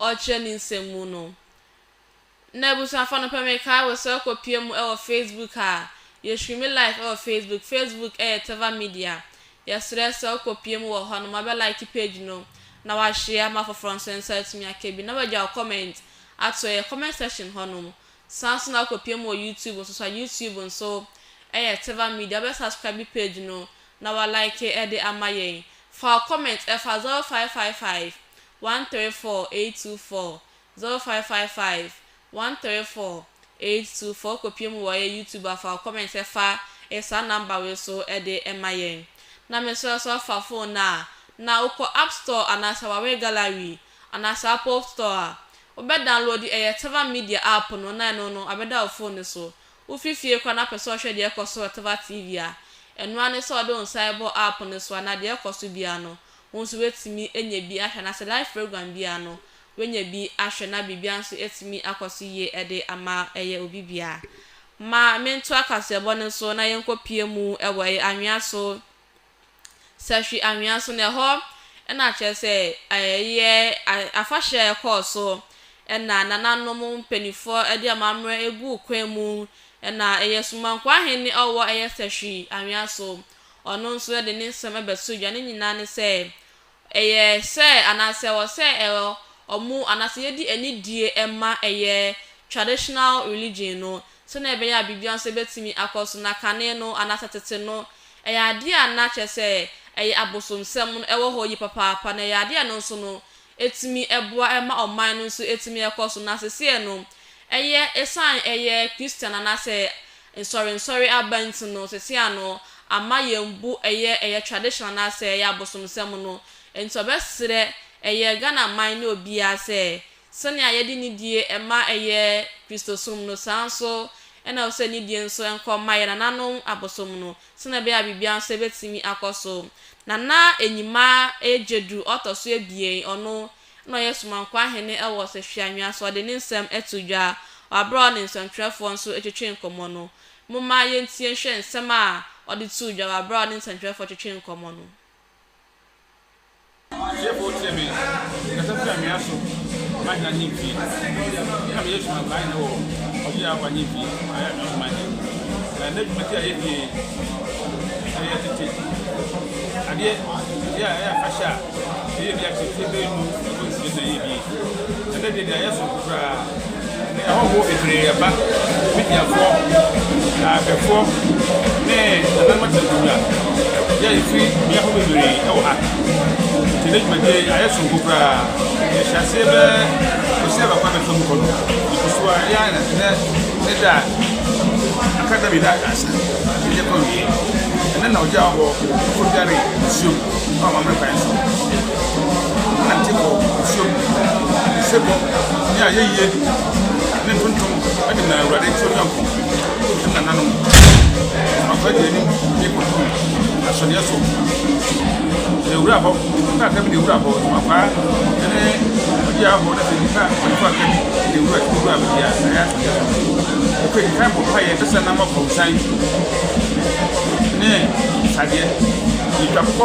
Ɔkyerɛ ne nsɛm mu no. Nnɛ abusuafo anɔpa mekae wo sɛ wokɔ pie mu wɔ Facebook a, yɛhwiri me live wɔ Facebook, Facebook yɛ Teva Media, yɛsrɛ sɛ wokɔ pie mu wɔ hɔ no ma bɛ like page no na w'ashare ma afoforɔ nso nsa atumi aka bi na w'agya wo comment ato yɛ comment section hɔ nom, san nso na wokɔ pie mu wɔ YouTube nso so a, YouTube nso yɛ Teva Media, wobɛ subscribe page no na w'alike de ama yɛn, fa wo comment fa 0555 one three four eight two four zero five five five one three four eight two four kɔpie mu wɔ yɛ YouTube afa wo comment ɛfa e saa number wei so ɛde ɛma yɛn na mesrɛ so afa phone no a na wokɔ app store anaasɛ Huawei gallery anaasɛ Apple store a wo bɛ download ɛyɛ Tava media app no na ɛno no abɛda wo phone no so wo fi fie koraa na pɛ sɛ ɔhwɛ deɛ ɛkɔ so wɔ Tava TV a ɛno ara ne sɛ ɔde wo nsa ɛbɔ app no so a na deɛ ɛkɔ so biara no Wo nso woatumi anya bi ahwɛ anaasɛ live program biara no woanya bi ahwɛ na biribiara nso atumi akɔ so yie de ama ɛyɛ obi biara. Ma mentoa kaseɛbɔ no so na yɛnkɔpue mu wɔ ɛyɛ anwea so, Sahwi anwea so na ɛhɔ na kyerɛ sɛ ɛyɛ afahyɛ a ɛkɔɔ so na nananom mpaninfoɔ de amammerɛ guu kwan mu na ɛyɛ Sumanko Ahene a ɔwɔ ɛyɛ Sahwi anwea so Ɔno nso de ne nsɛm bɛso dwa. Ne nyinaa ne sɛ, ɛyɛ sɛ anaasɛ ɛwɔ sɛ ɛyɛ wɔn anaasɛ yɛdi anidie ma ɛyɛ traditional religion no sɛdeɛ ɛbɛyɛ a biribiara nso bɛtumi akɔ so. Na kane no anaasɛ tete no, ɛyɛ adeɛ a na kyerɛ sɛ ɛyɛ abosomsɛm no wɔ hɔ yie papaapa. Na ɛyɛ adeɛ a ɛno nso no, ɛtumi boa ma ɔman no nso ɛtumi ɛkɔ so, na seseɛ no ɛyɛ ɛsiane ɛyɛ Christian anaasɛ nsɔre nsɔre aba nti no, seseɛ ano ama yɛn bu ɛyɛ ɛyɛ tradition anaasɛ ɛyɛ abosomsɛm no, ɛnti ɔbɛserɛ ɛyɛ Ghana man ne obiara sɛ sɛnea yɛde nidie ɛma ɛyɛ Kristosom no saa nso ɛna ɛwɔ sɛ nidie nso ɛnkɔ ma ɛyɛ nananom abosom no. sɛnea ɛbɛyɛ a biribiara nso betumi akɔ so. Na na Enyima yɛ Gyadu ɔtɔ so abien, ɔno na ɔyɛ Somankwaa hene wɔ Ɔsahwi Anwea, so ɔde ne nsɛm to dwa wɔ bere a ɔne nsɛntwerɛfoɔ nso retwetwe nkɔmmɔ no. Momma yɛntie nhwɛ nsɛm a ɔde too dwa wɔ bere a ɔne nsɛntwerɛfoɔ retwetwe nkɔmmɔ no. Ɔtiefo wo tie me, kasa firi anwea so ma hena ne mfie? Nna me Yesu ma kwan wɔ ɔgye a ɔfa ne mfie a ɔyɛ anwea so ma yɛn. Na ɛnnɛ dwumadi a yɛdie yi ɛyɛ tete adeɛ, adeɛ a ɛyɛ afahyɛ a yɛyɛ bi akyɛ mfie bɛyɛ du ɛkɔ nsia na yɛyɛ bi yi. Ɛnnɛ de, nea ɛyɛ soronko koraa ne ahɔho bebree reba, Mediafoɔ, Lamefoɔ, ne nananom akyerɛkyerɛwura, yɛ a yɛfiri mmea horow bebree wɔ ha. Enti ɛnnɛ dwumadie yi ayɛ soronko koraa. Yɛhyɛɛ aseɛ bɛyɛ ɔsea baako a ɛtwam kɔ no, ɛkɔ so ara, ɛyɛ a na ɛnnɛ ne da a aka da mmienu asa na yɛkɔ awieɛ. Ɛnnɛ na ɔgyaa hɔ, foforɔ biara reyɛ nsuom wɔ Amammerɛ kwan so. na nte wɔ nsuo mu, ne sebɔ ne ayɛyie ne ntontom de na Awurade turo Nyankopɔn ne nananom akwagye anim de kɔto ahyɛdeɛ so. Na ewura hɔ, na aka bi de ewura hɔ, makwaa ne ɔde ahɔ na sɛ nipa ɔnipa aka bi de ewura ewura baabi a ɛyɛ ahyɛdeɛ so. Ɛkɔ edi kan bɔ mpa yɛ ɛsɛ na ama kɔnsan ne tadeɛ ne twa kɔ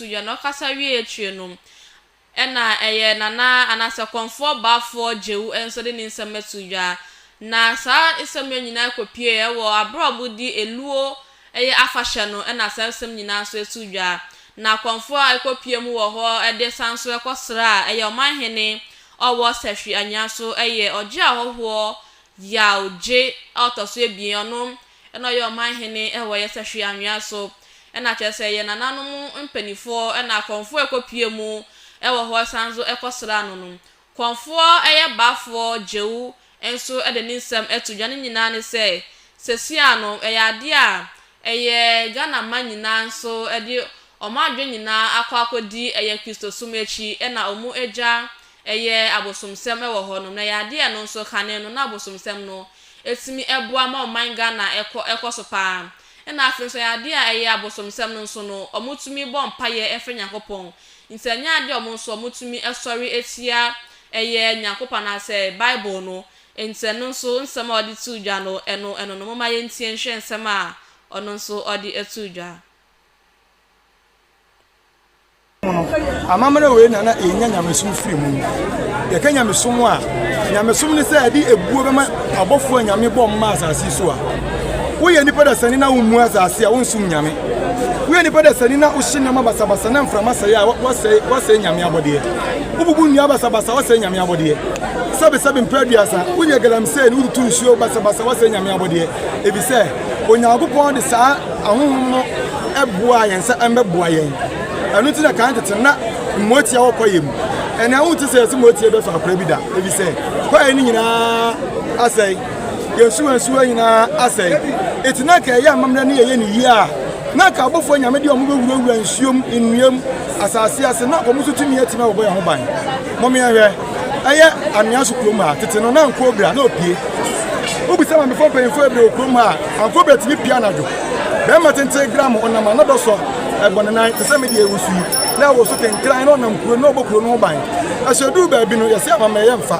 Sunyani ɔkasa wie akyire no, ɛna ɛyɛ Nana anaasɛ Kɔmfoɔ Baafoɔ Gyau nso de ne nsɛm ato dwa. Na saa nsɛm wei nyinaa kɔpuee wɔ aberɛ a wɔdi Eluo ɛyɛ afahyɛ no ɛna saa nsɛm nyinaa nso ɛto dwa. Na Kɔmfoɔ a ɛkɔ pue mu wɔ hɔ de san nso ɛkɔ sra ɛyɛ Ɔmanhene ɔwɔ Sahwi Anwea so ɛyɛ Ɔgye Ahɔhoɔ Yaw Gye a ɔtɔ so abien ɔno Ɛna ɔyɛ ɔman hene wɔ ɛyɛ sɛ hwee anwea so. Ɛna kyerɛ sɛ yɛn nananom mpaninfoɔ na akɔmfoɔ ɛkɔ pie mu wɔ hɔ san nso ɛkɔ sraa no nom. Kɔmfoɔ ɛyɛ baafoɔ gyeu nso de ne nsɛm to dwa ne nyinaa ne sɛ sɛsia no ɛyɛ adeɛ a ɛyɛ Ghana man nyinaa nso ɛde ɔmo adwene nyinaa akɔ akɔdi ɛyɛ Kristosom akyi ɛna ɔmo agya ɛyɛ abosomsɛm wɔ hɔnom na ɛyɛ adeɛ a ɛno nso kane no na abosomsɛm no ɛtumi boa ma ɔman Ghana ɛkɔ ɛkɔso paa ɛna afei nso ɛyɛ adeɛ a ɛyɛ abosomsɛm no nso no ɔmo tumi bɔ mpaeɛ ɛfrɛ Nyankopɔn nti ɛnyɛ adeɛ a ɔmo nso ɔmo tumi ɛsɔre ɛtia ɛyɛ Nyankopɔn anaasɛ Bible no nti ɛno nso nsɛm a ɔde too dwa no ɛno ɛno no momma yɛntie nhwɛ nsɛm a ɔno nso ɔde ɛtoo dwa. mu no, amammerɛ wei na na yɛnya nyamesom firi mu. Yɛka nyamesom a, nyamesom ne sɛ ɛde ebuo bɛma abɔfoɔ a nyame bɔ mma asase so a. Woyɛ nipa dasani na wommu asase a, wonsom nyame. Woyɛ nipa dasani na wohye nneɛma basabasa na mframa sɛe a, woasɛe, woasɛe nyame abɔdeɛ. Wobubu nnua basabasa, woasɛe nyame abɔdeɛ. Sɛbesɛbe mpɛ aduasa, woyɛ galamsey na wotutu nsuo basabasa, woasɛe nyame abɔdeɛ. Efisɛ Onyankopɔn de saa Ahonhom no boaa yɛn sɛ ɛmbɛboa yɛn. Ɛno nti na kan tete no na mmoatia wɔ kwaeɛ mu. Ɛnnɛ wonte sɛ yɛse mmoatia bɛfa akwaeɛ bi da, efisɛ kwaeɛ no nyinaa asɛe. Yɛn nsuwansuwa nyinaa asɛe. Enti na anka yɛyɛ amammerɛ na yɛyɛ no yie a, na anka abɔfoɔ anyame deɛ wɔbɛwurawura nsuom, nnua mu, asase ase, na wɔn nso tumi atumi abɛbɔ yɛn ho ban. Mommyɛnhwɛ. Ɛyɛ Anwea so kurom a tete no na Ankoobra na opie. Wobisa Mamefo mpanyimfo bebree wɔ kurom ha a, Ankoobra tumi pue anadwo. Barima tenten gramo ɔnam a na dɔ sɔ, ɛbɔ ne nan te sɛ me deɛ ɛwɔ su yi, na ɛwɔ so kenkran na ɔnam kuro no na ɔbɔ kuro no ho ban. Ɛso ɛduru baabi no, yɛse amammerɛyɛ mfa.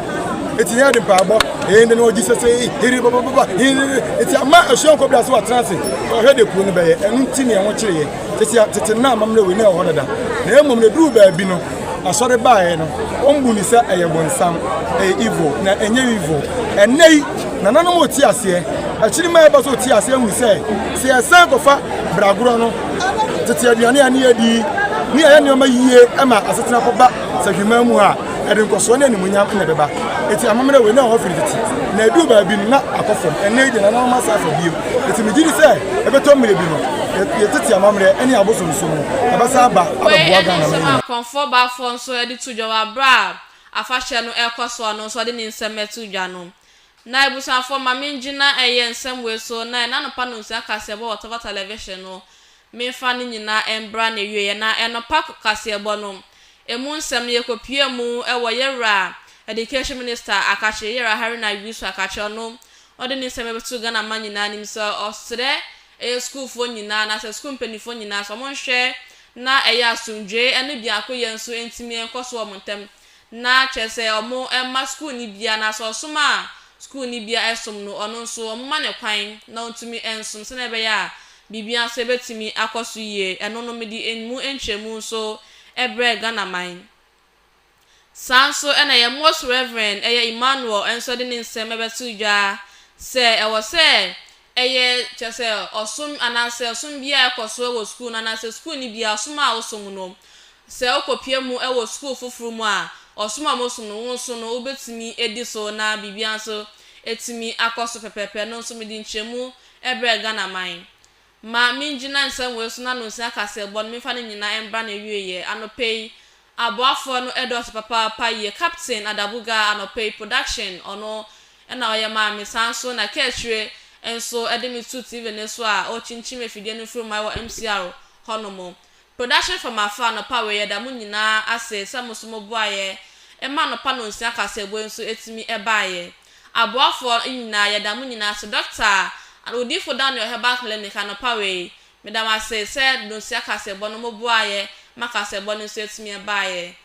Enti yɛn de mpaebɔ, yɛn de na ɔgye sesei, hiribabababa, hiriri, enti amma ɛso Ankoobra so atena ase, ɔhwɛ deɛ kuro no bɛyɛ. Ɛno nti na ɛho kyere yɛn. Tete a, tete no na amammerɛ wei na ɛwɔ hɔ dada, na mmom na ɛduru baabi no, Asɔre baeɛ no, wɔn bu no sɛ ɛyɛ bonsam, ɛyɛ evil, na ɛnyɛ evil. Ɛnnɛ yi, nananom rete aseɛ, akyiri mma ɛba sɛ wɔte aseɛ hunu sɛ, sɛ yɛsan kɔfa bragorɔ no, tete aduane a ne yɛdi, ne yɛyɛ nneɛma yie ma asetena kɔba Safiman mu a, ɛde nkɔsoɔ ne animuonyam na ɛbɛba. Enti amammerɛ wei, na ɛwɔ hɔ firi tete, na ɛduru baabi no, na akɔ fam. Ɛnnɛ yi deɛ, nananom asan afa bio. Enti megye di sɛ ɛbɛtɔ mmerɛ bi no, yɛn tete amammerɛ ne yɛn abosonsom no, ɛbɛsan aba abɛboa Ghana man nyinaa. Wei nso, Akɔmfoɔ Baafoɔ nso de to dwa wɔ aberɛ a afahyɛ no rekɔ so a ɔno nso ɔde ne nsɛm to dwa no. Na abusuafoɔ ma mengyina ɛyɛ nsɛm wei so na ɛnnɛ anɔpa nonsua kaseɛbɔ wɔ Tɔfa Tɛlɛvihyen no, memfa ne nyinaa mbra n'awieɛ. Na ɛnɔpa kaseɛbɔ no, ɛmu nsɛm no yɛkɔpue mu wɔ yɛn Wura Education Minister Akakyere, Yɛwura Haruna Wisu Akakyere, ɔno Ɔde ne nsɛm bɛto Ghana man nyinaa anim sɛ ɔsrɛ ɛyɛ sukuufoɔ nyinaa anaasɛ sukuu mpaninfoɔ nyinaa sɛ wɔn nhwɛ na ɛyɛ asomdwoeɛ ɛne biakoyɛ nso ntumi nkɔ so wɔ wɔn ntam na kyerɛ sɛ wɔn mma sukuuni biara anaasɛ ɔsom a sukuuni biara ɛsom no ɔno nso wɔn mma no kwan na ɔntumi nsom sɛdeɛ ɛbɛyɛ a biribiara nso ɛbɛtumi akɔ so yie ɛno no mede ɛmu nkyerɛmu nso ɛbrɛɛ Ghana man Saa nso na yɛn Most Reverend Ɛyɛ Emmanuel nso de ne nsɛm bɛto dwa sɛ ɛwɔ sɛ ɛyɛ, kyerɛ sɛ, ɔsom anaasɛ ɔsom biara a ɛkɔ so wɔ sukuu no anaasɛ sukuuni biara ɔsom a ɔsom no, sɛ wokɔpia mu wɔ sukuu foforo mu a, ɔsom a wɔsom no, wo nso no wobɛtumi adi so na biribiara nso atumi akɔ so pɛpɛɛpɛ. Ɛno nso mede nkyerɛmu brɛɛ Ghana man. Ma mingyina nsɛmmoa asu no ano nsi akaseɛbɔ no, memfa no nyinaa mbra n'awieɛ. Anɔpa yi, aboafoɔ no dɔɔso papaapa yie. Captain Adabuga, anɔpa yi, production, ɔno na ɔyɛ maa me. Saa nso na Kɛɛkyire nso de me too TV no so a ɔrekyinkyim afidie no mfruma wɔ MCR hɔnom. Production fam afa anɔpa wei yɛda mo nyinaa ase sɛ mo nso mo boaeɛ ma anɔpa nonsia kaseɛbɔ yi nso ɛtumi ɛbaeɛ. Aboafoɔ nyinaa yɛda mo nyinaa ase Dɔkta and Odiifo Daniel Herbal Clinic anɔpa wei meda mo ase sɛ nonsia kaseɛbɔ no mo boaeɛ ma kaseɛbɔ no nso ɛtumi ɛbaeɛ.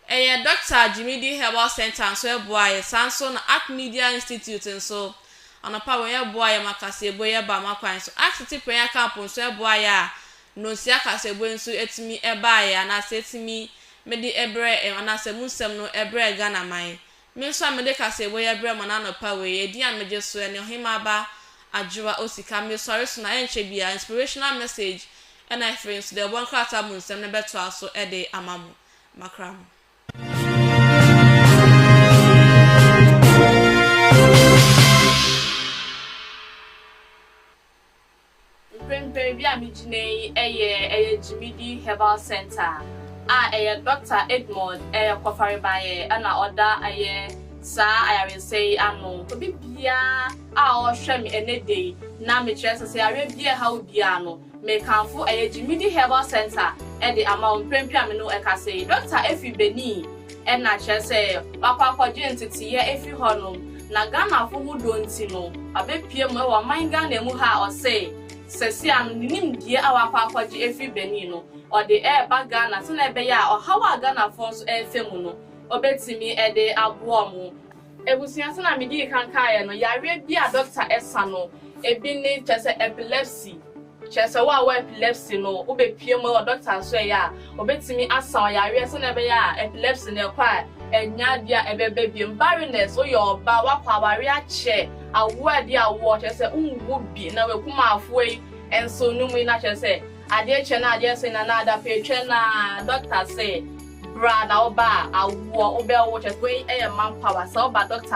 Ɛyɛ Dɔkta Dwumidi Herbal Centre nso ɛboa yɛ, saa nso na Ark Media Institute nso, anɔpa wei, ɛboa yɛ ma kaseɛbue yɛ ba ma kwan so. Ark City Prayer Camp nso ɛboa yɛ a nnonsia kaseɛbue nso ɛtumi ɛbaa yɛ anaasɛ ɛtumi mede ɛbrɛ ɛm anaasɛ mu nsɛm no ɛbrɛ Ghana man. Me nso a mede kaseɛbue yɛ brɛ mo no anɔpa wei, ɛdin a megye so ɛne Ɔhemmaa Ba Adwoa Osika. Mesɔre so na ɛnkyɛ biara Inspirational Message ɛna ɛfiri nso deɛ ɔbɔ nkrataa mu nsɛm no bɛtoa so ɛde ama mo. makra no. Mprempren bea a migyina yi yɛ ɛyɛ Gyimidi Herbal Center a ɛyɛ Dɔkta Edmond ɛyɛ Kɔfarebayɛ ɛna ɔda ɛyɛ saa ayaresɛ yi ano. Obi biara a ɔhwɛ me ɛnɛ da yi na mekyerɛ sɛ sɛ yareɛ biara ɛha wo biara no Mekamfo ɛyɛ Gyimidi Herbal Centre de ama wo mprempren a me ne wo rekasa yi. Dɔkta afi Benin na kyerɛ sɛ wakɔ akɔgye nteteeɛ afi hɔnom, na Ghanafo ho dɔ nti no, wabɛpue mu wɔ ɔman Ghana mu ha a ɔse sɛsia no ne nimdeɛ a wakɔ akɔgye afiri Benin no, ɔde reba Ghana sɛnea ɛbɛyɛ a ɔhaw a Ghanafoɔ nso refa mu no, ɔbɛtumi de aboa wɔn. Abusua, sɛnea midii kan kaeɛ no, yareɛ bi a dɔkta sa no, ebi ne, kyerɛ sɛ, epilepsy. Kyerɛ sɛ, wo a wowɔ epilepsy no, wobɛpue mu wɔ dɔkta asɔɛeɛ a, ɔbɛtumi asa wo yareɛ sɛnea ɛbɛyɛ a epilepsy no ɛkɔ a, ɛnnya bi a ɛbɛba bio. Barrenness, woyɛ ɔbaa, woakɔ awareɛ akyɛ, awoɔ a ɛde awoɔ, kyerɛ sɛ, wonwu bi, na w'akumafoɔ yi nso, nom yi na kyerɛ sɛ, Adeɛ kyɛ na adeɛ se na na adapɛɛ twɛ na doctor se bra na wo ba a awoɔ wo bɛ wo kyɛ wei yɛ man power sɛ wo ba doctor